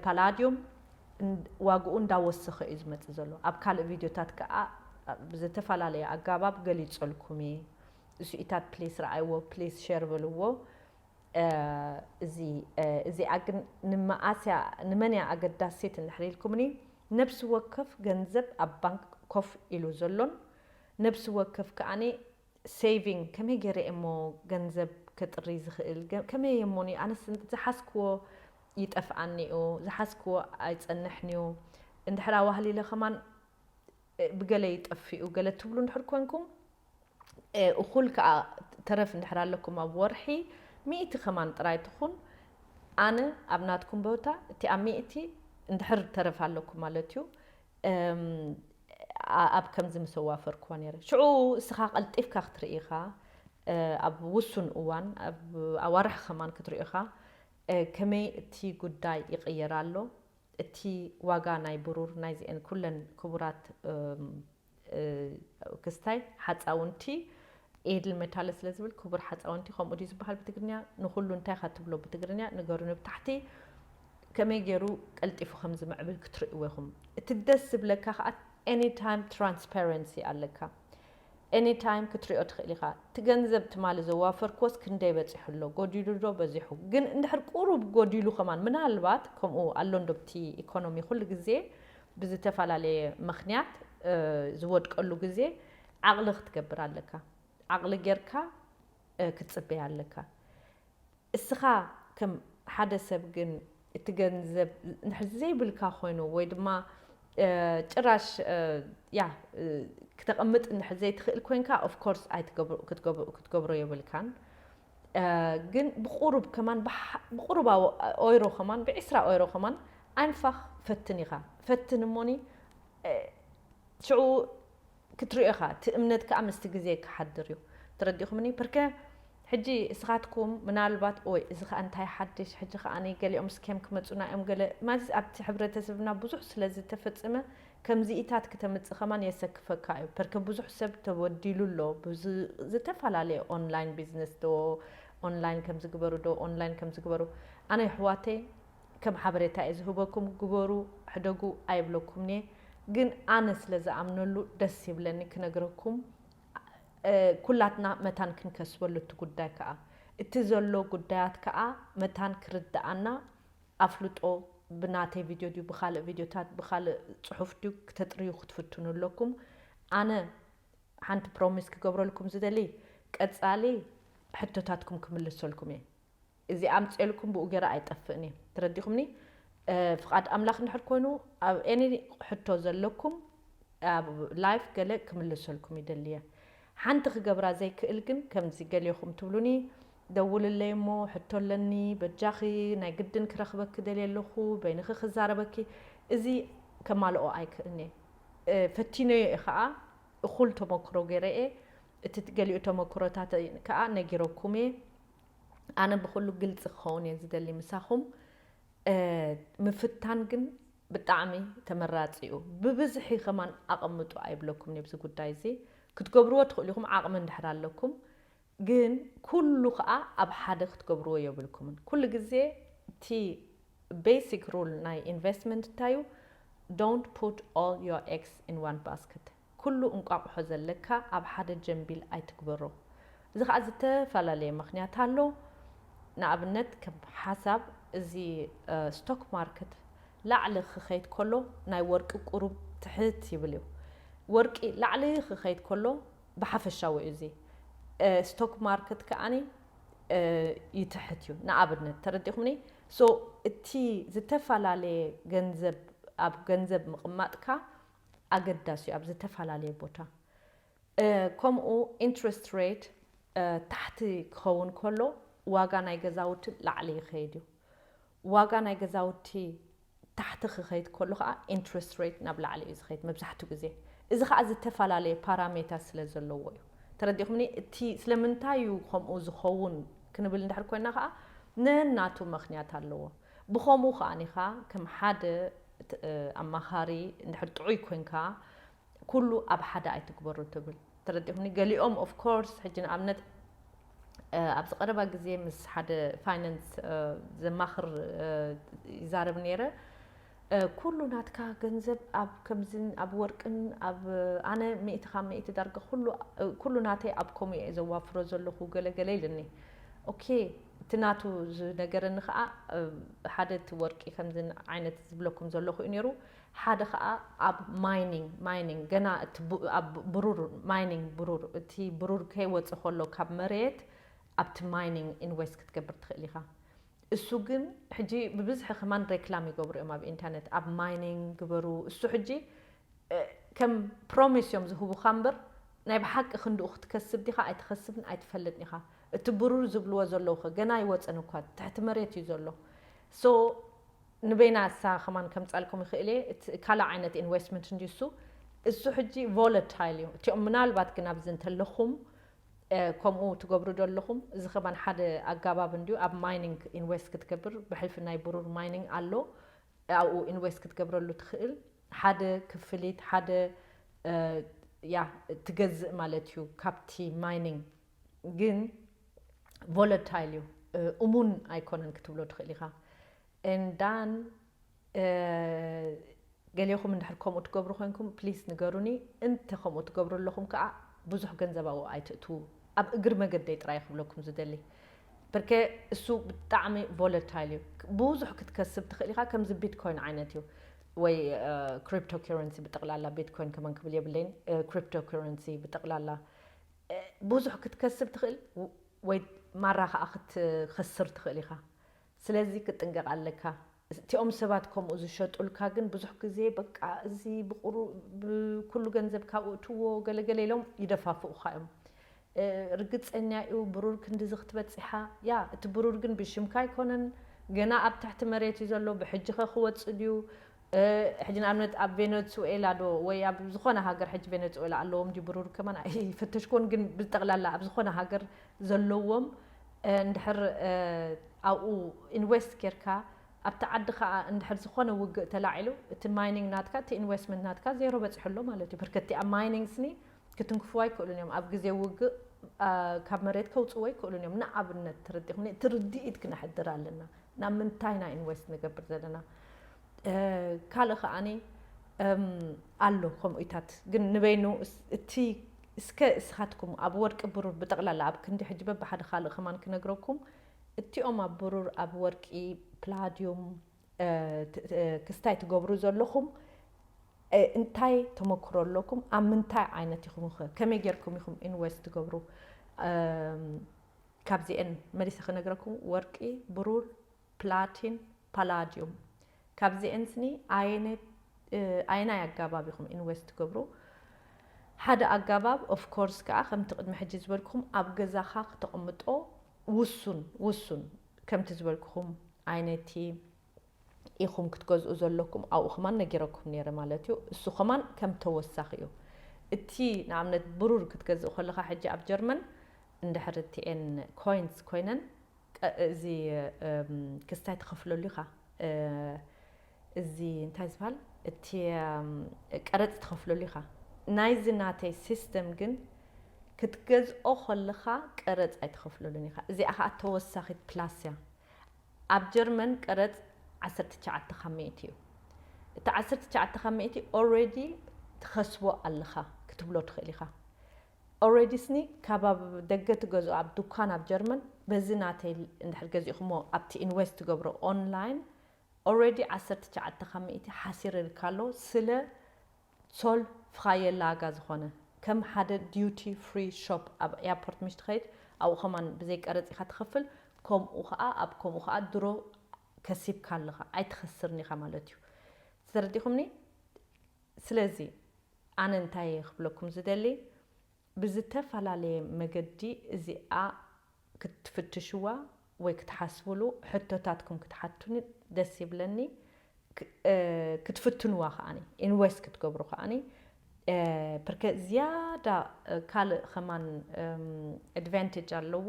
ፓላድዩም ዋግኡ እንዳወሰኸ እዩ ዝመጽእ ዘሎ። ኣብ ካልእ ቪድዮታት ከኣ ብዝተፈላለየ ኣጋባብ ገሊጸልኩም እየ። እሱኢታት ፕሊስ ረኣይዎ ፕሊስ ሸር በልዎ። እዚ እዚኣ ግን ንመኣስ እያ ንመን እያ ኣገዳሲት እንድሕር ኢልኩምኒ ነብሲ ወከፍ ገንዘብ ኣብ ባንክ ኮፍ ኢሉ ዘሎን ነብሲ ወከፍ ከኣ ሴቪንግ ከመይ ጌረ እየ እሞ ገንዘብ ከጥሪ ዝኽእል ከመይ እየ እሞኒ ኣነስ ዝሓዝክዎ ይጠፍኣኒ እዩ ዝሓዝክዎ ኣይጸንሕን እዩ እንድሕር ኣዋህሊለ ከማን ብገለ ይጠፍኡ ገለ ትብሉ እንድሕር ኮንኩም እኹል ከኣ ተረፍ እንድሕር ኣለኩም ኣብ ወርሒ ሚእቲ ከማን ጥራይ ትኹን ኣነ ኣብ ናትኩም ቦታ እቲኣ ሚእቲ እንድሕር ተረፍ ኣለኩም ማለት እዩ ኣብ ከምዚ ምስ ኣዋፈርክዋ ነይረ ሽዑ እስኻ ቀልጢፍካ ክትርኢ ኢኻ ኣብ ውሱን እዋን ኣብ ኣዋርሕ ከማን ክትሪኦ ኢኻ ከመይ እቲ ጉዳይ ይቕየር ኣሎ እቲ ዋጋ ናይ ብሩር ናይዚኤን ኩለን ክቡራት ክስታይ ሓፃውንቲ ኤድል መታለ ስለ ዝብል ክቡር ሓፃውንቲ ከምኡ ድዩ ዝበሃል ብትግርኛ ንኹሉ እንታይ ኢኻ ትብሎ ብትግርኛ ንገሩኒ ብታሕቲ ከመይ ገይሩ ቀልጢፉ ከም ዝምዕብል ክትርእዎ ኢኹም እቲ ደስ ዝብለካ ከዓ ኤኒ ታይም ትራንስፓረንሲ ኣለካ Any time ክትሪኦ ትኽእል ኢኻ። እቲ ገንዘብ ትማሊ ዘዋፈርክዎስ ክንደይ በጺሑ ኣሎ? ጎዲሉ ዶ በዚሑ? ግን እንድሕር ቁሩብ ጎዲሉ ከማን ምናልባት ከምኡ ኣሎ እንዶ እቲ ኢኮኖሚ ኩሉ ግዜ ብዝተፈላለየ ምኽንያት ዝወድቀሉ ግዜ ዓቕሊ ክትገብር ኣለካ። ዓቕሊ ጌርካ ክትጽበይ ኣለካ። እስኻ ከም ሓደ ሰብ ግን እቲ ገንዘብ እንድሕር ዘይብልካ ኮይኑ ወይ ድማ ጭራሽ ያ ክተቐምጥ እንድሕር ዘይትኽእል ኮንካ ኦፍ ኮርስ ክትገብሮ የብልካን ግን ብቑሩብ ከማን ብቑሩብ ኦይሮ ከማን ብዒስራ ኦይሮ ከማን ኣይንፋኽ ፈትን ኢኻ ፈትን እሞኒ ሽዑ ክትሪኦ ኢኻ እቲ እምነት ከኣ ምስቲ ግዜ ክሓድር እዩ ተረዲእኹምኒ ፕርከ ሕጂ እስኻትኩም ምናልባት ኦይ እዚ ከኣ እንታይ ሓድሽ ሕጂ ከኣ ገሊኦም ስኬም ክመጹና እዮም ገለ ማለትስ ኣብቲ ሕብረተሰብና ብዙሕ ስለ ዝተፈጸመ ከምዚኢታት ክተምጽእ ከማን የሰክፈካ እዩ ፐርከ ብዙሕ ሰብ ተበዲሉ ኣሎ ብዝተፈላለየ ኦንላይን ቢዝነስ ዶ ኦንላይን ከምዚ ግበሩ ዶ ኦንላይን ከምዚ ግበሩ ኣነ የሕዋተይ ከም ሓበሬታ እየ ዝህበኩም ግበሩ ሕደጉ ኣይብለኩምንየ ግን ኣነ ስለ ዝኣምነሉ ደስ ይብለኒ ክነግረኩም ኩላትና መታን ክንከስበሉ እቲ ጉዳይ ከኣ እቲ ዘሎ ጉዳያት ከኣ መታን ክርደኣና ኣፍልጦ ብናተይ ቪድዮ ድዩ ብካልእ ቪድዮታት ብካልእ ጽሑፍ ድዩ ክተጥርዩ ክትፍትኑ ኣለኩም ኣነ ሓንቲ ፕሮሚስ ክገብረልኩም ዝደሊ ቀጻሊ ሕቶታትኩም ክምልሰልኩም እየ እዚ ኣምጼልኩም ብኡ ገረ ኣይጠፍእን እየ ተረዲኩምኒ ፍቃድ ኣምላክ እንድሕር ኮይኑ ኣብ any ሕቶ ዘለኩም ኣብ live ገለ ክምልሰልኩም ይደሊ እየ ሓንቲ ክገብራ ዘይክእል ግን ከምዚ ገሌኩም ትብሉኒ ደውልለይ እሞ ሕቶ ኣለኒ በጃኪ ናይ ግድን ክረክበኪ ደልየ ኣለኩ በይንኪ ክዛረበኪ እዚ ከማልኦ ኣይክእልን እየ ፈቲነዮ እየ ከኣ እኩል ተሞክሮ ገረ እየ እቲ ገሊኡ ተሞክሮታተይ ከኣ ነጊረኩም እየ ኣነ ብኩሉ ግልፂ ክኸውን እየ ዝደሊ ምሳኹም ምፍታን ግን ብጣዕሚ ተመራፂ እዩ ብብዝሒ ከማን ኣቐምጡ ኣይብለኩምን እየ ጉዳይ እዚ ክትገብርዎ ትኽእሉ ኢኹም ዓቕሚ እንድሕር ኣለኩም ግን ኩሉ ከዓ ኣብ ሓደ ክትገብርዎ የብልኩምን ኩሉ ግዜ እቲ ቤሲክ ሩል ናይ ኢንቨስትመንት እንታይ እዩ ዶንት ፑት ኦል ዮር ኤግስ ኢን ዋን ባስከት ኩሉ እንቋቑሖ ዘለካ ኣብ ሓደ ጀምቢል ኣይትግበሮ። እዚ ከኣ ዝተፈላለየ ምኽንያት ኣሎ። ንኣብነት ከም ሓሳብ እዚ ስቶክ ማርክት ላዕሊ ክኸይድ ከሎ ናይ ወርቂ ቁሩብ ትሕት ይብል እዩ። ወርቂ ላዕሊ ክኸይድ ከሎ ብሓፈሻዊ እዩ እዚ ስቶክ ማርክት ከኣ ይትሕት እዩ ንኣብነት ተረዲእኹምኒ so እቲ ዝተፈላለየ ገንዘብ ኣብ ገንዘብ ምቕማጥካ ኣገዳሲ እዩ ኣብ ዝተፋላለየ ቦታ ከምኡ ኢንትረስት ሬት ታሕቲ ክኸውን ከሎ ዋጋ ናይ ገዛውቲ ላዕሊ ይኸይድ እዩ ዋጋ ናይ ገዛውቲ ታሕቲ ክኸይድ ከሎ ከዓ ኢንትረስት ሬት ናብ ላዕሊ እዩ ዝኸይድ መብዛሕትኡ ግዜ እዚ ከዓ ዝተፈላለየ ፓራሜታ ስለ ዘለዎ እዩ ተረዲኹምኒ እቲ ስለምንታይ እዩ ከምኡ ዝኸውን ክንብል እንድሕር ኮይና ከዓ ነናቱ ምክንያት ኣለዎ ብኸምኡ ከኣ ከም ሓደ ኣማኻሪ እንድሕር ጥዑይ ኮንካ ኩሉ ኣብ ሓደ ኣይትግበሮ ትብል ተረዲእኹምኒ ገሊኦም of course ሕጂ ንኣብነት ኣብዚ ቀረባ ግዜ ምስ ሓደ ፋይናንስ ዘማኽር ይዛረብ ነይረ ኩሉ ናትካ ገንዘብ ኣብ ከምዝን ኣብ ወርቅን ኣብ ኣነ ሚእቲ ካብ ሚእቲ ዳርጋ ኩሉ ናተይ ኣብ ከምኡ እየ ዘዋፍሮ ዘለኹ ገለገለ ኢልኒ ኦኬ እቲ ናቱ ዝነገረኒ ከኣ ሓደ እቲ ወርቂ ከምዚ ዓይነት ዝብለኩም ዘለኹ እዩ ነይሩ ሓደ ከኣ ኣብ ማይኒንግ ማይኒንግ ገና እቲ ኣብ ብሩር ማይኒንግ ብሩር እቲ ብሩር ከይወጽእ ከሎ ካብ መሬት ኣብቲ ማይኒንግ ኢንቨስት ክትገብር ትኽእል ኢኻ እሱ ግን ሕጂ ብብዝሒ ከማን ሬክላም ይገብሩ እዮም ኣብ ኢንተርነት ኣብ ማይኒንግ ግበሩ እሱ ሕጂ ከም ፕሮሚስ እዮም ዝህቡኻ እምበር ናይ ብሓቂ ክንድኡ ክትከስብ ዲኻ ኣይትኸስብን ኣይትፈልጥን ኢኻ እቲ ብሩር ዝብልዎ ዘለዉ ከ ገና ኣይወጸን እኳ ትሕቲ መሬት እዩ ዘሎ so ንበይና እሳ ከማን ከምጻልኩም ይክእል እየ እቲ ካልእ ዓይነት ኢንወስትመንት እንድዩ እሱ እሱ ሕጂ ቮለታይል እዩ እቲኦም ምናልባት ግን ኣብዚ እንተለኹም ከምኡ ትገብሩ ዶ ኣለኹም እዚ ከማን ሓደ ኣጋባብ እንድዩ ኣብ ማይኒንግ ኢንወስት ክትገብር ብሕልፊ ናይ ብሩር ማይኒንግ ኣሎ ኣብኡ ኢንወስት ክትገብረሉ ትክእል ሓደ ክፍሊት ሓደ ያ ትገዝእ ማለት እዩ ካብቲ ማይኒንግ ግን ቮለታይል እዩ እሙን ኣይኮነን ክትብሎ ትኽእል ኢኻ and than ገሌኹም እንድሕር ከምኡ ትገብሩ ኮንኩም ፕሊስ ንገሩኒ እንተ ከምኡ ትገብሩ ኣለኹም ከዓ ብዙሕ ገንዘብ ኣብኡ ኣይትእትዉ ኣብ እግሪ መገደይ ጥራይ ክብለኩም ዝደሊ ብርከ እሱ ብጣዕሚ ቮለታይል እዩ ብዙሕ ክትከስብ ትኽእል ኢኻ ከምዚ ቢትኮይን ዓይነት እዩ ወይ ክሪፕቶ ከረንሲ ብጠቕላላ ቢትኮይን ከመን ክብል የብለይን ክሪፕቶ ከረንሲ ብጠቕላላ ብዙሕ ክትከስብ ትኽእል ወይ ማራ ከኣ ክትኸስር ትኽእል ኢኻ ስለዚ ክትጥንቀቅ ኣለካ እቲኦም ሰባት ከምኡ ዝሸጡልካ ግን ብዙሕ ግዜ በቃ እዚ ኩሉ ገንዘብካ ኣእትዎ ገለ ገለ ኢሎም ይደፋፍኡኻ እዮም ርግጸኛ እዩ ብሩር ክንድዚ ክትበጺሓ ያ እቲ ብሩር ግን ብሽምካ ኣይኮነን ገና ኣብ ትሕቲ መሬት እዩ ዘሎ ብሕጂኸ ክወጽእ ድዩ ሕጂ ንኣብነት ኣብ ቬነጹኤላ ዶ ወይ ኣብ ዝኾነ ሃገር ሕጂ ቬነጹኤላ ኣለዎም ድዩ ብሩር ከማን ኣይፈተሽክዎን ግን ብጠቅላላ ኣብ ዝኾነ ሃገር ዘለዎም እንድሕር ኣብኡ ኢንዌስት ጌርካ ኣብቲ ዓዲ ከኣ እንድሕር ዝኾነ ውግእ ተላዒሉ እቲ ማይኒንግ ናትካ እቲ ኢንዌስትመንት ናትካ ዜሮ በጺሑ ኣሎ ማለት እዩ ብርከቲ ኣብ ማይኒንግ ስኒ ክትንክፍዎ ኣይክእሉን እዮም። ኣብ ግዜ ውግእ ካብ መሬት ከውጽዎ ኣይክእሉን እዮም። ንኣብነት ተረዲኹምኒ? እቲ ርድኢት ክነሕድር ኣለና። ናብ ምንታይ ኢና ኢንቨስት ንገብር ዘለና? ካልእ ከኣ ኣሎ ከምኡታት ግን ንበይኑ እቲ እስከ እስኻትኩም ኣብ ወርቂ ብሩር ብጠቕላላ ኣብ ክንዲ ሕጂ በብሓደ ካልእ ከማን ክነግረኩም እቲኦም ኣብ ብሩር ኣብ ወርቂ ፕላድዩም ክስታይ ትገብሩ ዘለኹም እንታይ ተመክሮ ኣለኩም ኣብ ምንታይ ዓይነት ኢኹም ከ ከመይ ጌርኩም ኢኹም ኢንቨስት ትገብሩ ካብዚኤን መሊሰ ክነግረኩም ወርቂ ብሩር ፕላቲን ፓላዲዩም ካብዚኤን ስኒ ኣየነት ኣየናይ ኣጋባብ ኢኹም ኢንቨስት ትገብሩ ሓደ ኣጋባብ ኦፍኮርስ ከዓ ከምቲ ቅድሚ ሕጂ ዝበልኩም ኣብ ገዛኻ ክተቕምጦ ውሱን ውሱን ከምቲ ዝበልኩኹም ኣይነቲ ኢኹም ክትገዝኡ ዘለኩም ኣብኡ ከማን ነጊረኩም ነይረ ማለት እዩ እሱ ከማን ከም ተወሳኺ እዩ እቲ ንኣብነት ብሩር ክትገዝእ ከለኻ ሕጂ ኣብ ጀርመን እንድሕር እቲኤን ኮይንስ ኮይነን እዚ ክስታይ ትኸፍለሉ ኢኻ እዚ እንታይ ዝባሃል እቲ ቀረጽ ትኸፍለሉ ኢኻ ናይዚ ናተይ ሲስተም ግን ክትገዝኦ ከለኻ ቀረጽ ኣይትኸፍለሉን ኢኻ እዚኣ ከኣ ተወሳኺት ፕላስ እያ ኣብ ጀርመን ቀረጽ ዓሰርተ ትሽዓተ ካብ ሚእቲ እዩ እቲ ዓሰርተ ትሽዓተ ካብ ሚእቲ ኦሬዲ ትኸስቦ ኣለኻ ክትብሎ ትኽእል ኢኻ ኦሬዲ ስኒ ካብ ኣብ ደገ ትገዝኦ ኣብ ዱኳን ኣብ ጀርመን በዚ ናተይ እንድሕር ገዚእኹሞ ኣብቲ ኢንቨስት ትገብሮ ኦንላይን Already ዓሰርተ ትሽዓተ ካብ ሚእቲ ሓሲርርካ ኣሎ ስለ ሶል ፍኻየላጋ ዝኾነ ከም ሓደ ዲዩቲ ፍሪ ሾፕ ኣብ ኤያፖርት ምሽ ትኸይድ ኣብኡ ከማን ብዘይ ቀረጽ ኢኻ ትኸፍል ኮምኡ ኸኣ ኣብ ኮምኡ ኸኣ ድሮ ከሲብካ ኣለኻ ኣይትኸስርን ኢኻ ማለት እዩ ተረዲኹምኒ ስለዚ ኣነ እንታይ እየ ክብለኩም ዝደሊ ብዝተፈላለየ መገዲ እዚኣ ክትፍትሽዋ ወይ ክትሓስብሉ ሕቶታትኩም ክትሓቱኒ ደስ ይብለኒ ክትፍትንዋ ከኣ ኢንቨስት ክትገብሩ ከኣ ፕርከ ዝያዳ ካልእ ከማን ኣድቫንተጅ ኣለዎ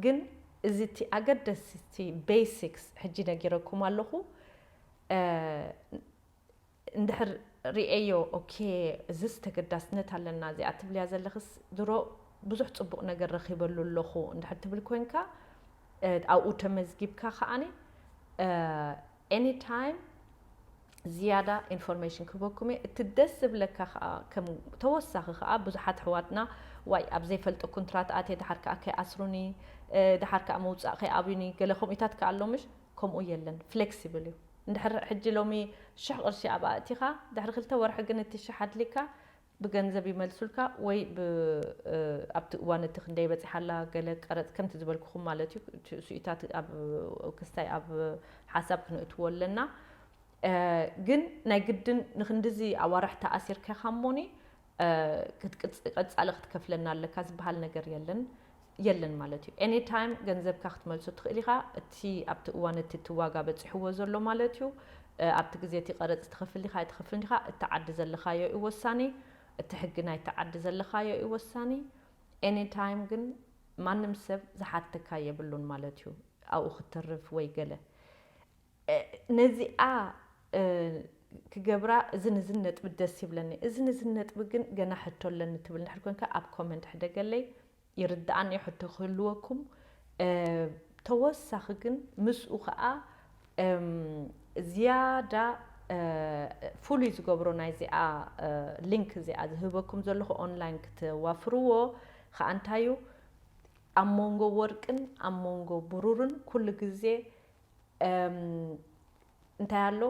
ግን እዚ እቲ ኣገደስቲ ቤሲክስ ሕጂ ነጊረኩም ኣለኹ። እንድሕር ሪኤዮ ኦኬ እዝስ ተገዳስነት ኣለና እዚኣ ትብልያ ዘለኽስ ድሮ ብዙሕ ጽቡቕ ነገር ረኺበሉ ኣለኹ እንድሕር ትብል ኮንካ ኣብኡ ተመዝጊብካ ከኣ ኤኒ ታይም ዝያዳ ኢንፎርሜሽን ክህበኩም እየ እቲ ደስ ዝብለካ ከኣ ከም ተወሳኺ ከኣ ብዙሓት ኣሕዋትና ዋይ ኣብ ዘይፈልጦ ኩንትራት ኣትየ ድሓር ከኣ ከይኣስሩኒ ድሓር ከኣ ምውጻእ ከይኣብዩኒ ገለ ከምኡታት ከኣ ኣሎ ምሽ ከምኡ የለን ፍሌክሲብል እዩ እንድሕር ሕጂ ሎሚ ሽሕ ቅርሺ ኣብኣ ኣእቲኻ ድሕሪ ክልተ ወርሒ ግን እቲ ሽሕ ኣድልይካ ብገንዘብ ይመልሱልካ ወይ ብ ኣብቲ እዋን እቲ ክንደይ በጺሓ ኣላ ገለ ቀረጽ ከምቲ ዝበልኩኹም ማለት እዩ እሱኢታት ኣብ ክስታይ ኣብ ሓሳብ ክንእትዎ ኣለና ግን ናይ ግድን ንክንድዚ ኣዋርሕ ተኣሲርካኻ እሞኒ ቀጻሊ ክትከፍለና ኣለካ ዝበሃል ነገር የለን የለን ማለት እዩ ኤኒ ታይም ገንዘብካ ክትመልሶ ትኽእል ኢኻ እቲ ኣብቲ እዋን እቲ እቲ ዋጋ በጺሕዎ ዘሎ ማለት እዩ ኣብቲ ግዜ እቲ ቀረጽ ትኸፍል ዲኻ ኣይትኸፍልን ዲኻ እቲ ዓዲ ዘለኻዮ እዩ ወሳኒ እቲ ሕጊ ናይቲ ዓዲ ዘለኻዮ እዩ ወሳኒ ኤኒ ታይም ግን ማንም ሰብ ዝሓተካ የብሉን ማለት እዩ ኣብኡ ክትተርፍ ወይ ገለ ነዚኣ ክገብራ እዝን እዝን ነጥቢ ደስ ይብለኒ እዝን እዝን ነጥቢ ግን ገና ሕቶ ኣለኒ ትብል እንድሕር ኮንካ ኣብ ኮመንት ሕደገለይ ይርድኣኒ እዩ ሕቶ ክህልወኩም ተወሳኺ ግን ምስኡ ከዓ ዝያዳ ፍሉይ ዝገብሮ ናይ እዚኣ ሊንክ እዚኣ ዝህበኩም ዘለኹ ኦንላይን ክትዋፍርዎ ከዓ እንታይ እዩ ኣብ መንጎ ወርቅን ኣብ መንጎ ብሩርን ኩሉ ግዜ እንታይ ኣሎ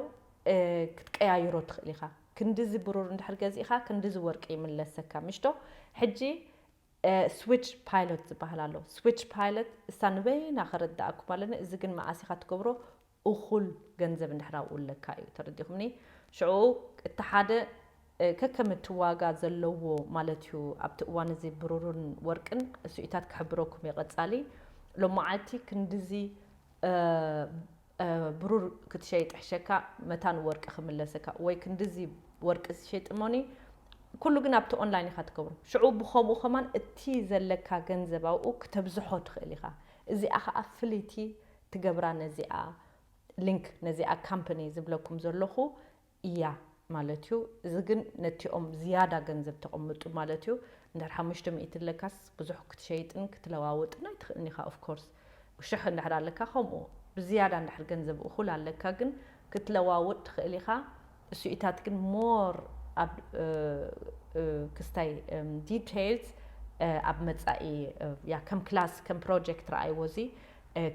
ክትቀያይሮ ትኽእል ኢኻ ክንዲዚ ብሩር እንድሕር ገዚእኻ ክንዲዚ ወርቂ ይምለሰካ ምሽቶ ሕጂ ስዊች ፓይሎት ዝበሃል ኣሎ ስዊች ፓይሎት እሳ ንበይና ከረዳእኩም ኣለኒ እዚ ግን መዓስ ኢኻ ትገብሮ እኹል ገንዘብ እንድሕር ኣብኡ ኣለካ እዩ ተረዲኹምኒ ሽዑ እቲ ሓደ ከከም እቲ ዋጋ ዘለዎ ማለት እዩ ኣብቲ እዋን እዚ ብሩርን ወርቅን እሱኢታት ክሕብረኩም እየ ቀጻሊ ሎማዓልቲ ክንድዚ ብሩር ክትሸይጥ ሕሸካ መታን ወርቂ ክምለሰካ ወይ ክንድዚ ወርቂ ዝሸይጥ እሞኒ ኩሉ ግን ኣብቲ ኦንላይን ኢካ ትገብሮ ሽዑ ብከምኡ ከማን እቲ ዘለካ ገንዘብ ኣብኡ ክተብዝሖ ትክእል ኢካ እዚኣ ከኣ ፍልይቲ ትገብራ ነዚኣ ሊንክ ነዚኣ ካምፐኒ ዝብለኩም ዘለኩ እያ ማለት እዩ እዚ ግን ነቲኦም ዝያዳ ገንዘብ ተቅምጡ ማለት እዩ እንድሕር ሓሙሽተ ሚእቲ ለካስ ብዙሕ ክትሸይጥን ክትለዋውጥን ኣይትክእልን ኢካ of course ሽሕ እንድሕር ኣለካ ከምኡ ብዝያዳ እንድሕር ገንዘብ እኩል ኣለካ ግን ክትለዋውጥ ትክእል ኢካ እሱኢታት ግን more ኣብ ክስታይ details ኣብ መጻኢ እያ ከም ክላስ ከም ፕሮጀክት ረኣይዎ እዚ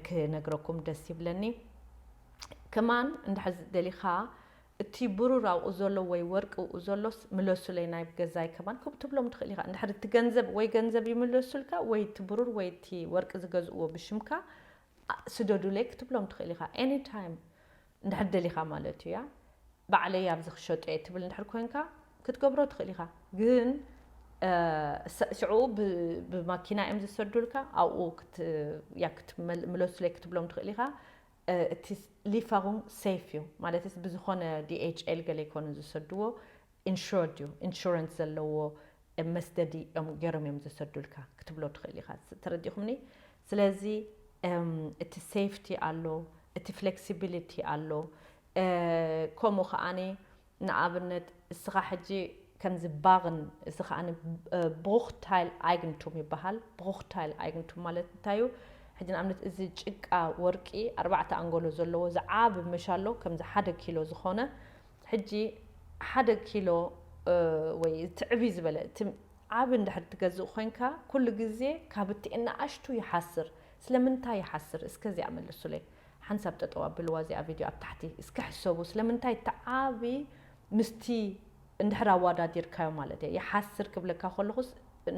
ክነግረኩም ደስ ይብለኒ ከማን እንድሕር ደሊካ እቲ ብሩር ኣብኡ ዘሎ ወይ ወርቂ እኡ ዘሎስ ምለሱለይ ናብ ገዛይ ከማን ከምኡ ትብሎም ትክእል ኢካ እንድሕር እቲ ገንዘብ ወይ ገንዘብ ይምለሱልካ ወይ እቲ ብሩር ወይ እቲ ወርቂ ዝገዝእዎ ብሽምካ ስደዱለይ ክትብሎም ትክእል ኢካ any time እንድሕር ደሊካ ማለት እያ ባዕለይ ኣብዚ ክሸጦ እየ ትብል እንድሕር ኮንካ ክትገብሮ ትክእል ኢካ ግን ሽዑ ብማኪና እዮም ዝሰዱልካ ኣብኡ ክትምለሱለይ ክትብሎም ትክእል ኢካ እቲ ሊፈሩንግ ሰይፍ እዩ ማለት ብዝኾነ ዲኤችኤል ገለ ኣይኮኑን ዝሰድዎ ኢንሹርድ እዩ ኢንሹረንስ ዘለዎ መስደዲ እዮም ገይሮም እዮም ዘሰዱልካ ክትብሎ ትኽእል ኢኻ ተረዲኹምኒ ስለዚ እቲ ሴፍቲ ኣሎ እቲ ፍሌክሲቢሊቲ ኣሎ ከምኡ ከዓኒ ንኣብነት እስኻ ሕጂ ከምዚ ባግን እዚ ከኣ ብሩክታይል ኣይግንቱም ይበሃል። ብሩክታይል ኣይግንቱም ማለት እንታይ እዩ? ሕጂ ንኣብነት እዚ ጭቃ ወርቂ ኣርባዕተ ኣንጎሎ ዘለዎ እዚ ዓቢ መሻሎ ከምዚ ሓደ ኪሎ ዝኾነ ሕጂ ሓደ ኪሎ ወይ እቲ ዕብይ ዝበለ እቲ ዓቢ እንድሕር ትገዝእ ኮንካ ኩሉ ግዜ ካብ እቲ ንኣሽቱ ይሓስር ስለምንታይ ይሓስር እስከ እዚኣ መልሱለይ። ሓንሳብ ጠጠው ኣብልዋ እዚኣ ቪድዮ ኣብ ታሕቲ እስኪ ሕሰቡ ስለምንታይ እቲ ዓቢ ምስቲ እንድሕር ኣዋዳዲርካዮ ማለት እየ ይሓስር ክብለካ ከለኹስ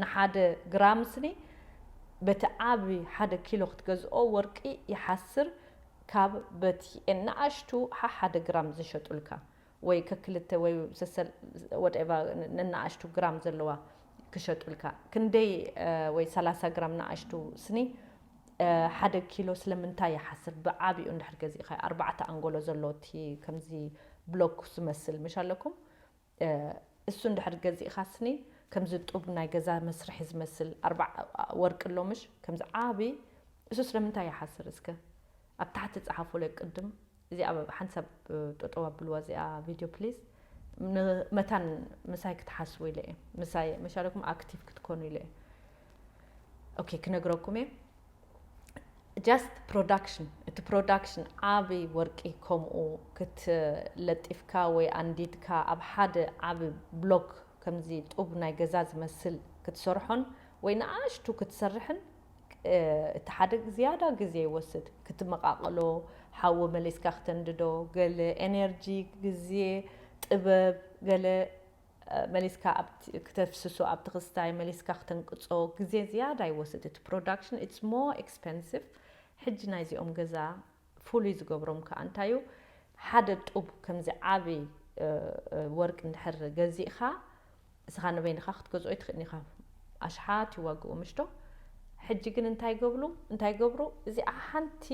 ንሓደ ግራም ስኒ በቲ ዓቢ ሓደ ኪሎ ክትገዝኦ ወርቂ ይሓስር ካብ በቲ ንኣሽቱ ሓሓደ ግራም ዝሸጡልካ ወይ ከክልተ ወይ ሰሰል ወደቫ ነናኣሽቱ ግራም ዘለዋ ክሸጡልካ ክንደይ ወይ ሰላሳ ግራም ንኣሽቱ ስኒ ሓደ ኪሎ ስለምንታይ ይሓስር ብዓቢኡ እንድሕር ገዚእካዮ ኣርባዕተ ኣንጎሎ ዘሎ እቲ ከምዚ ብሎክ ዝመስል ምሽ ኣለኩም እሱ እንድሕር ገዚእካ ስኒ ከምዚ ጡብ ናይ ገዛ መስርሒ ዝመስል ኣርባዕ ወርቂ ኣሎ ምሽ ከምዚ ዓቢ እሱ ስለምንታይ ይሓስር እስከ ኣብ ታሕቲ ጸሓፉለይ ቅድም እዚኣ ሓንቲ ሰብ ጠጠው ኣብልዋ እዚኣ ቪድዮ ፕሊስ ን መታን ምሳይ ክትሓስቡ ኢለ እየ ምሳይ መሻለኩም ኣክቲቭ ክትኮኑ ኢለ እየ ኦኬ ክነግረኩም እየ ጃስት ፕሮዳክሽን እቲ ፕሮዳክሽን ዓቢ ወርቂ ከምኡ ክትለጢፍካ ወይ ኣንዲድካ ኣብ ሓደ ዓቢ ብሎክ ከምዚ ጡብ ናይ ገዛ ዝመስል ክትሰርሖን ወይ ንኣሽቱ ክትሰርሕን እቲ ሓደ ዝያዳ ግዜ ይወስድ፣ ክትመቓቕሎ፣ ሓዊ መሊስካ ክተንድዶ፣ ገለ ኤነርጂ፣ ግዜ፣ ጥበብ፣ ገለ መሊስካ ክተፍስሶ ኣብቲ ክስታይ፣ መሊስካ ክተንቅጾ፣ ግዜ ዝያዳ ይወስድ እቲ ፕሮዳክሽን፣ ኢትስ ሞር ኤክስፐንሲቭ፣ ሕጂ ናይዚኦም ገዛ ፍሉይ ዝገብሮም ከኣ እንታይ እዩ፣ ሓደ ጡብ ከምዚ ዓቢ ወርቂ እንድሕር ገዚእኻ፣ እስኻ ንበይንኻ ክትገዝኦ ኣይትኽእልን ኢኻ፣ ኣሽሓት ይዋግኡ ምሽዶ፣ ሕጂ ግን እንታይ ይገብሉ እንታይ ይገብሩ፣ እዚኣ ሓንቲ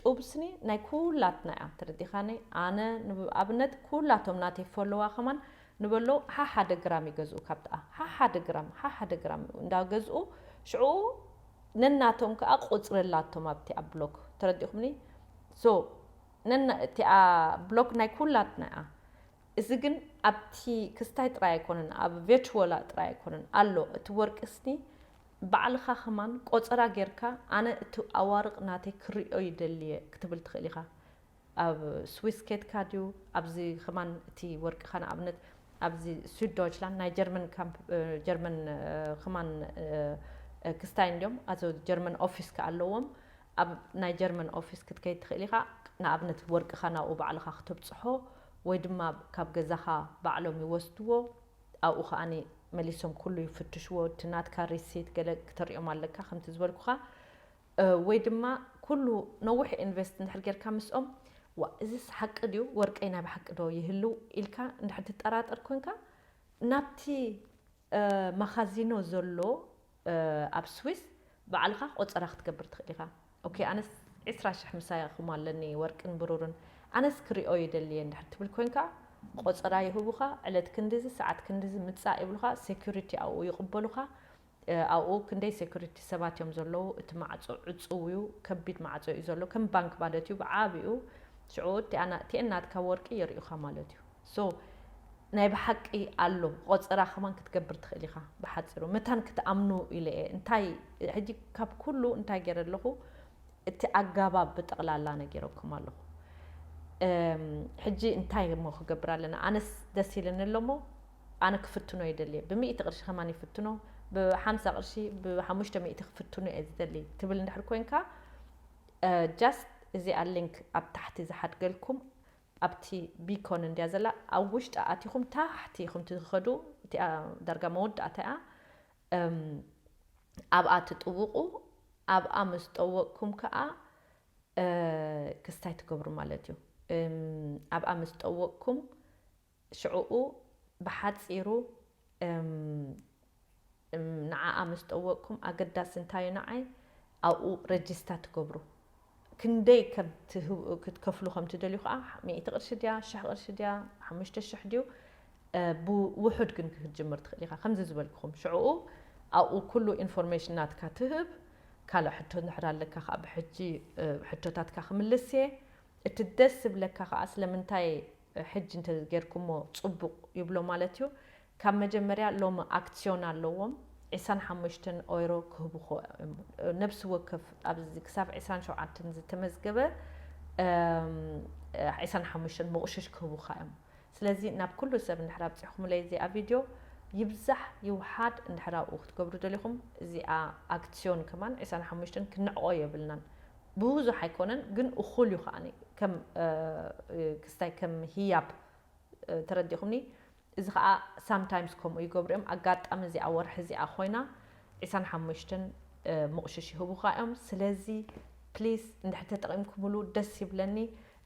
ጡብ ስኒ ናይ ኩላትና እያ፣ ተረዲእኻኒ፣ ኣነ ንኣብነት ኩላቶም ናተይ ፈለዋ ከማን ንበሎ ሓሓደ ግራም ይገዝኡ ካብትኣ፣ ሓሓደ ግራም ሓሓደ ግራም እንዳገዝኡ ሽዑ ነናቶም ከኣ ቁጽሪ ኣላቶም ኣብቲ ኣብ ብሎክ ተረዲኩምኒ so ነና እቲኣ ብሎክ ናይ ኩላትና እያ እዚ ግን ኣብቲ ክስታይ ጥራይ ኣይኮነን ኣብ ቨችወላ ጥራይ ኣይኮነን ኣሎ እቲ ወርቂ ስኒ ባዕልካ ከማን ቆጸራ ጌርካ ኣነ እቲ ኣዋርቅ ናተይ ክሪኦ ይደሊ እየ ክትብል ትክእል ኢካ ኣብ ስዊስ ኬድካ ድዩ ኣብዚ ከማን እቲ ወርቅካ ንኣብነት ኣብዚ ሱድ ዶይችላንድ ናይ ጀርመን ካምፕ ጀርመን ከማን ክስታይን ድዮም ኣዞ ጀርመን ኦፊስ ከኣ ኣለዎም ኣብ ናይ ጀርመን ኦፊስ ክትከይድ ትክእል ኢካ ንኣብነት ወርቅካ ናብኡ ባዕልካ ክተብጽሖ ወይ ድማ ካብ ገዛካ ባዕሎም ይወስድዎ ኣብኡ ከኣ መሊሶም ኩሉ ይፍትሽዎ እቲ ናትካ ሪሲት ገለ ክተርእዮም ኣለካ ከምቲ ዝበልኩካ ወይ ድማ ኩሉ ነዊሕ ኢንቨስት እንድሕር ጌርካ ምስኦም ዋእ እዝስ ሓቂ ድዩ ወርቀይ ናይ ብሓቂ ዶ ይህልው ኢልካ እንድሕር ትጠራጠር ኮንካ ናብቲ ማኻዚኖ ዘሎ ኣብ ስዊስ ባዕልኻ ቆጸራ ክትገብር ትኽእል ኢኻ ኦኬ ኣነስ ዕስራ ሽሕ ምሳኹም ኣለኒ ወርቅን ብሩርን ኣነስ ክሪኦ ይደሊየ እንድሕር ትብል ኮንካ ቆጸራ ይህቡኻ ዕለት ክንድዚ ሰዓት ክንድዚ ምጻእ ይብሉኻ ሴኩሪቲ ኣብኡ ይቕበሉኻ ኣብኡ ክንደይ ሴኩሪቲ ሰባት እዮም ዘለዉ እቲ ማዕጾ ዕጹው እዩ ከቢድ ማዕጾ እዩ ዘሎ ከም ባንክ ማለት እዩ ብዓቢኡ ሽዑ እቲኣ ናእቲኤን ናትካ ወርቂ የርእዩካ ማለት እዩ so ናይ ብሓቂ ኣሎ ቆጸራ ከማን ክትገብር ትኽእል ኢኻ ብሓጺሩ መታን ክትኣምኑ ኢለ እየ እንታይ ሕጂ ካብ ኩሉ እንታይ ገይረ ኣለኹ እቲ ኣጋባብ ብጠቕላላ ነጊረኩም ኣለኹ ሕጂ እንታይ እሞ ክገብር ኣለና ኣነስ ደስ ኢልኒ ኣሎሞ ኣነ ክፍትኖ ይደልየ ብሚእቲ ቅርሺ ከማን ይፍትኖ ብሓምሳ ቅርሺ ብሓሙሽተ ሚእቲ ክፍትኖ እየ ዝደሊ ትብል እንድሕር ኮንካ ጃስት እዚኣ ሊንክ ኣብ ታሕቲ ዝሓድገልኩም ኣብቲ ቢኮን እንድያ ዘላ ኣብ ውሽጣ ኣቲኹም ታሕቲ ኢኹም ትኸዱ እቲኣ ዳርጋ መወዳእታ እያ ኣብኣ ትጥውቑ ኣብኣ ምስ ጠወቕኩም ከዓ ክስታይ ትገብሩ ማለት እዩ ኣብኣ ምስ ጠወቕኩም ሽዕኡ ብሓጺሩ እም እም ንዓኣ ምስ ጠወቅኩም ኣገዳሲ እንታይ እዩ ንዓይ ኣብኡ ረጂስታ ትገብሩ ክንደይ ከምትህብ ክትከፍሉ ከምትደልዩ ከኣ ሚእቲ ቅርሺ ድያ ሽሕ ቅርሺ ድያ ሓሙሽተ ሽሕ ድዩ ብውሑድ ግን ክትጅምር ትኽእል ኢኻ ከምዚ ዝበልክኹም ሽዕኡ ኣብኡ ኩሉ ኢንፎርሜሽን ናትካ ትህብ ካልእ ሕቶ እንድሕር ኣለካ ከኣ ብሕጂ ሕቶታትካ ክምልስ እየ እቲ ደስ ዝብለካ ከኣ ስለምንታይ ሕጂ እንተ ጌርኩሞ ጽቡቅ ይብሎ ማለት እዩ ካብ መጀመርያ ሎሚ ኣክትስዮን ኣለዎም ዕስራን ሓሙሽተን ኦይሮ ክህቡኮ እም ነብሲ ወከፍ ኣብዚ ክሳብ ዕስራን ሸውዓተን ዝተመዝገበ እም ዕስራን ሓሙሽተን መቁሽሽ ክህቡካ እዮም ስለዚ ናብ ኩሉ ሰብ እንድሕር ኣብጺሕኩምለይ እዚኣ ቪድዮ ይብዛሕ ይውሓድ እንድሕር ኣብኡ ክትገብሩ ደሊኹም እዚኣ ኣክትስዮን ከማን ዕስራን ሓሙሽተን ክንዕቆ የብልናን ብብዙሕ ኣይኮነን ግን እኹል እዩ ከኣ ከም ክስታይ ከም ህያብ ተረዲእኹምኒ እዚ ከኣ ሳምታይምስ ከምኡ ይገብሩ እዮም ኣጋጣሚ እዚኣ ወርሒ እዚኣ ኮይና ዒስራን ሓሙሽተን ምቑሽሽ ይህቡኻ እዮም ስለዚ ፕሊስ እንድሕር ተጠቒምኩምሉ ደስ ይብለኒ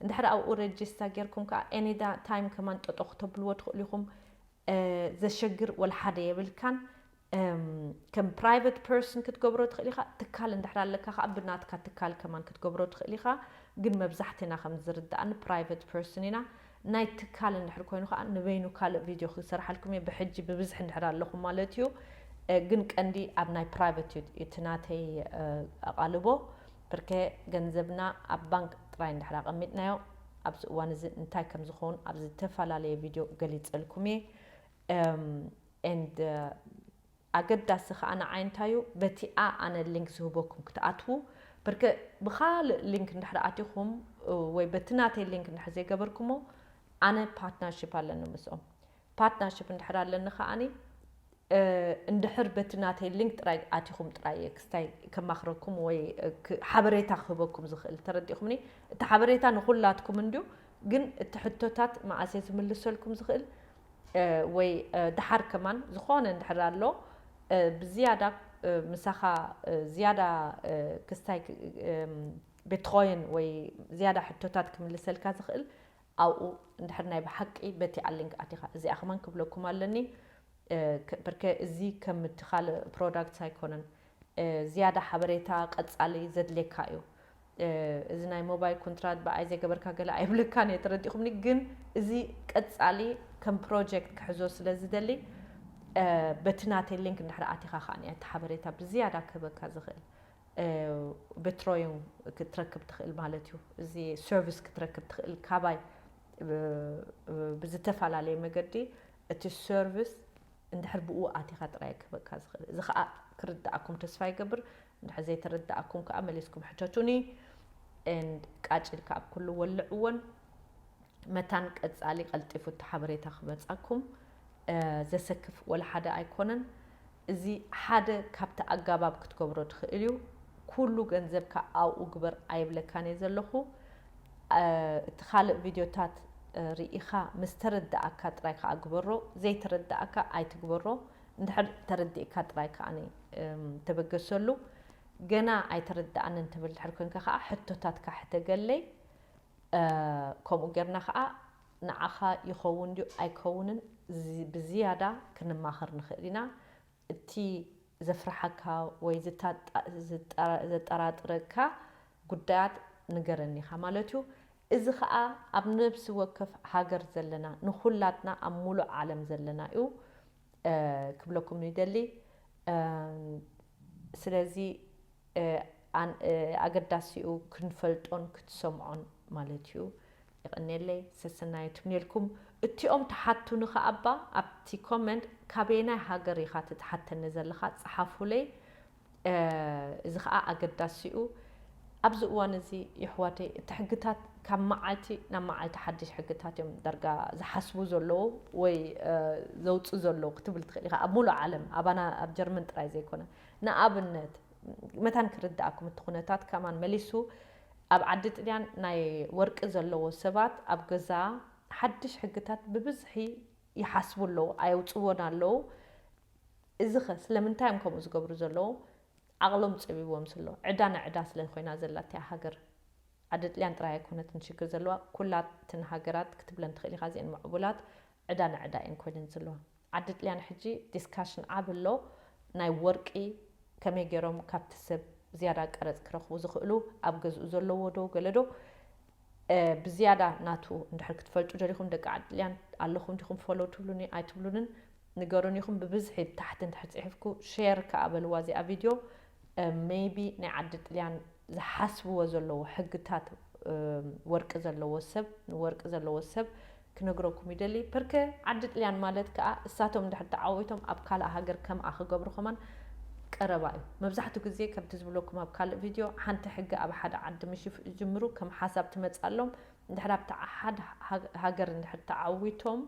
እንድሕር ኣብኡ ረጅስታ ጌርኩም ከዓ ኤኒ ታይም ከማን ጠጦ ክተብልዎ ትኽእሉ ኢኹም ዘሸግር ወላ ሓደ የብልካን ከም ፕራይቨት ፐርሰን ክትገብሮ ትኽእል ኢኻ፣ ትካል እንድሕር ኣለካ ከዓ ብናትካ ትካል ከማን ክትገብሮ ትኽእል ኢኻ፣ ግን መብዛሕትና ከም ዝርደኣኒ ፕራይቨት ፐርሰን ኢና፣ ናይ ትካል እንድሕር ኮይኑ ከዓ ንበይኑ ካልእ ቪድዮ ክሰርሓልኩም እየ ብሕጂ ብብዝሒ እንድሕር ኣለኹም ማለት እዩ፣ ግን ቀንዲ ኣብ ናይ ፕራይቨት እዩ እቲ ናተይ ኣቓልቦ፣ ብርከ ገንዘብና ኣብ ባንክ ጥራይ እንድሕር ኣቐሚጥናዮ ኣብዚ እዋን እዚ እንታይ ከም ዝኸውን ኣብ ዝተፈላለየ ቪድዮ ገሊጸልኩም እየ። and ኣገዳሲ ከኣ ንዓይ እንታይ እዩ በቲኣ ኣነ link ዝህበኩም ክትኣትዉ ብርክ ብካልእ link እንድሕር ኣቲኹም ወይ በቲ ናተይ link እንድሕር ዘይገበርኩሞ ኣነ partnership ኣለኒ ምስኦም partnership እንድሕር ኣለኒ ከኣኒ እንድሕር በቲ ናተይ link ጥራይ ኣቲኹም ጥራይ እየ ክስታይ ከማኽረኩም ወይ ሓበሬታ ክህበኩም ዝኽእል ተረዲእኹምኒ እቲ ሓበሬታ ንኹላትኩም እንድዩ ግን እቲ ሕቶታት መኣስ እየ ዝምልሰልኩም ዝኽእል ወይ ደሓር ከማን ዝኾነ እንድሕር ኣሎ ብዝያዳ ምሳኻ ዝያዳ ክስታይ ቤትኾይን ወይ ዝያዳ ሕቶታት ክምልሰልካ ዝኽእል ኣብኡ እንድሕር ናይ ብሓቂ በቲ ኣሊንክ ኣቲኻ እዚኣ ከማን ክብለኩም ኣለኒ ብርከ እዚ ከምቲ ካልእ ፕሮዳክት ኣይኮነን ዝያዳ ሓበሬታ ቀጻሊ ዘድልየካ እዩ። እዚ ናይ ሞባይል ኮንትራት ብኣይ ዘይገበርካ ገለ ኣይብለካን እየ ተረዲእኹምኒ ግን እዚ ቀጻሊ ከም ፕሮጀክት ክሕዞ ስለ ዝደሊ በቲ ናተይ ሊንክ እንድሕር ኣቲኻ ከኣ እቲ ሓበሬታ ብዝያዳ ክህበካ ዝኽእል ብትሮዩ ክትረክብ ትኽእል ማለት እዩ። እዚ ሰርቪስ ክትረክብ ትኽእል ካባይ ብዝተፈላለየ መገዲ እቲ ሰርቪስ እንድሕር ብእኡ ኣቲኻ ጥራይ እየ ክህበካ ዝኽእል። እዚ ከኣ ክርደኣኩም ተስፋ ይገብር፣ እንድሕር ዘይተረደኣኩም ከኣ መሊስኩም ሕተቱኒ and ቃጭ ኢልካ ኣብ ኩሉ ወልዕዎን መታን ቀጻሊ ቀልጢፉ እቲ ሓበሬታ ክመጻኩም ዘሰክፍ ወላ ሓደ ኣይኮነን። እዚ ሓደ ካብቲ ኣጋባብ ክትገብሮ ትኽእል እዩ። ኩሉ ገንዘብካ ኣብኡ ግበር ኣይብለካን እየ ዘለኹ። እቲ ካልእ ቪድዮታት ሪኢኻ ምስ ተረደኣካ ጥራይ ከኣ ግበሮ ዘይተረደኣካ ኣይትግበሮ እንድሕር ተረዲእካ ጥራይ ከኣ ተበገሰሉ ገና ኣይተረደኣንን ትብል እንድሕር ኮንካ ከኣ ሕቶታትካ ሕተገለይ ከምኡ ጌርና ከኣ ንዓኻ ይኸውን ድዩ ኣይከውንን ብዝያዳ ክንማኸር ንኽእል ኢና እቲ ዘፍርሓካ ወይ ዘጠራጥረካ ጉዳያት ንገረኒ ኢኻ ማለት እዩ። እዚ ከኣ ኣብ ነብሲ ወከፍ ሃገር ዘለና ንኹላትና ኣብ ሙሉእ ዓለም ዘለና እዩ ክብለኩም ይደሊ። ስለዚ ኣገዳሲ እዩ ክንፈልጦን ክትሰምዖን ማለት እዩ። የቐኔለይ ሰሰናዩ ትምኔልኩም እቲኦም ትሓቱኒ ከኣ እባ ኣብቲ ኮመንት ካበየናይ ሃገር ኢኻ እቲ ትሓተኒ ዘለኻ ጽሓፉለይ እዚ ከኣ ኣገዳሲ'ዩ ኣብዚ እዋን እዚ የሕዋተይ እቲ ሕግታት ካብ መዓልቲ ናብ መዓልቲ ሓድሽ ሕግታት እዮም ዳርጋ ዝሓስቡ ዘለዉ ወይ ዘውጽኡ ዘለዉ ክትብል ትኽእል ኢኻ ኣብ ሙሉእ ዓለም ኣባና ኣብ ጀርመን ጥራይ ዘይኮነ ንኣብነት መታን ክርድኣኩም እቲ ኩነታት ከማን መሊሱ ኣብ ዓዲ ጥልያን ናይ ወርቂ ዘለዎ ሰባት ኣብ ገዛ ሓድሽ ሕግታት ብብዝሒ ይሓስቡ ኣለዉ ኣየውጽዎን ኣለዉ እዚኸ ስለምንታይ እዮም ከምኡ ዝገብሩ ዘለዉ ዓቕሎም ጸቢብዎም ስሎ ዕዳ ንዕዳ ስለ ኮይና ዘላ እቲኣ ሃገር ዓዲ ጥልያን ጥራይ ኣይኮነትን ሽግር ዘለዋ ኩላትን ሃገራት ክትብለን ትኽእል ኢኻ እዚኤን ምዕቡላት ዕዳ ንዕዳ እየን ኮይነን ዘለዋ ዓዲ ጥልያን ሕጂ ዲስካሽን ዓቢ ኣሎ ናይ ወርቂ ከመይ ጌሮም ካብቲ ሰብ ዝያዳ ቀረጽ ክረኽቡ ዝኽእሉ ኣብ ገዝኡ ዘለዎ ዶ ገለ ዶ ብዝያዳ ናቱ እንድሕር ክትፈልጡ ደሊኹም ደቂ ዓዲ ጥልያን ኣለኹም ዲኹም ፎሎው ትብሉኒ ኣይትብሉንን ንገሩኒ ኢኹም ብብዝሒ ብታሕቲ እንድሕር ጽሒፍኩ ሼር ከኣ በልዋ እዚኣ ቪድዮ ሜይቢ ናይ ዓዲ ጥልያን ዝሓስብዎ ዘለዎ ሕግታት ወርቂ ዘለዎ ሰብ ንወርቂ ዘለዎ ሰብ ክነግረኩም ይደሊ ፐርከ ዓዲ ጥልያን ማለት ክኣ እሳቶም እንድሕር ተዓዊቶም ኣብ ካልእ ሃገር ከምኣ ክገብሩ ከማን ቀረባ እዩ መብዛሕቱ ግዜ ከምቲ ዝብለኩም ኣብ ካልእ ቪድዮ ሓንቲ ሕጊ ኣብ ሓደ ዓዲ ምሽ ይጅምሩ ከም ሓሳብ ትመጽኣሎም እንድሕር ኣብቲ ሓድ ሃገር እንድሕር ተዓዊቶም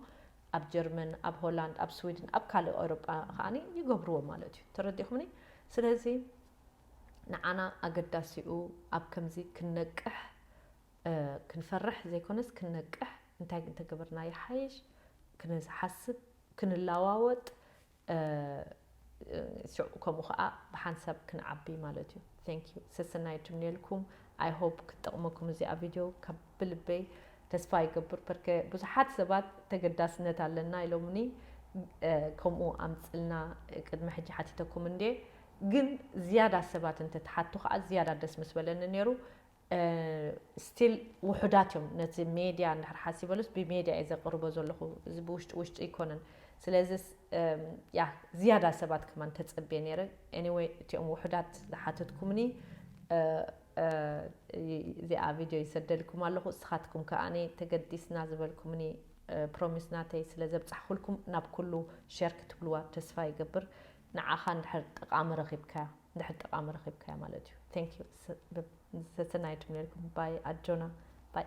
ኣብ ጀርመን ኣብ ሆላንድ ኣብ ስዊድን ኣብ ካልእ ኤውሮጳ ከኣ ይገብርዎ ማለት እዩ ተረዲእኩምኒ ስለዚ ንዓና ኣገዳሲኡ ኣብ ከምዚ ክንነቅሕ ክንፈርሕ ዘይኮነስ ክንነቅሕ እንታይ እንተገበርና ይሓይሽ ክንሓስብ ክንለዋወጥ ሽዑ ከምኡ ከዓ ብሓንሳብ ክንዓቢ ማለት እዩ ቴንክ ዩ ሰሰናይ እትምነየልኩም ኣይ ሆፕ ክትጠቕመኩም እዚኣ ቪድዮ ካብ ብልበይ ተስፋ ይገብር ፐርከ ብዙሓት ሰባት ተገዳስነት ኣለና ኢሎምኒ ከምኡ ኣምፅልና ቅድሚ ሕጂ ሓቲተኩም እንዴ ግን ዝያዳ ሰባት እንተትሓቱ ከዓ ዝያዳ ደስ ምስ በለኒ ነይሩ ስቲል ውሑዳት እዮም ነቲ ሜድያ እንድሕር ሓሲበሉስ ብሜድያ እየ ዘቕርቦ ዘለኹ እዚ ብውሽጢ ውሽጢ ኣይኮነን ስለዚ ያ ዝያዳ ሰባት ከማን ተጸብየ ነይረ ኤኒወይ እቲኦም ውሑዳት ዝሓተትኩምኒ እዚኣ ቪድዮ ይሰደልኩም ኣለኹ እስኻትኩም ከኣኒ ተገዲስና ዝበልኩምኒ ፕሮሚስ ናተይ ስለ ዘብጻሕኩልኩም ናብ ኩሉ ሸር ክትብልዋ ተስፋ ይገብር ንዓኻ እንድሕር ጠቃሚ ረኺብካያ እንድሕር ጠቃሚ ረኺብካያ ማለት እዩ thank you ሰሰናዩ ትምነየልኩም ባይ ኣጆና ባይ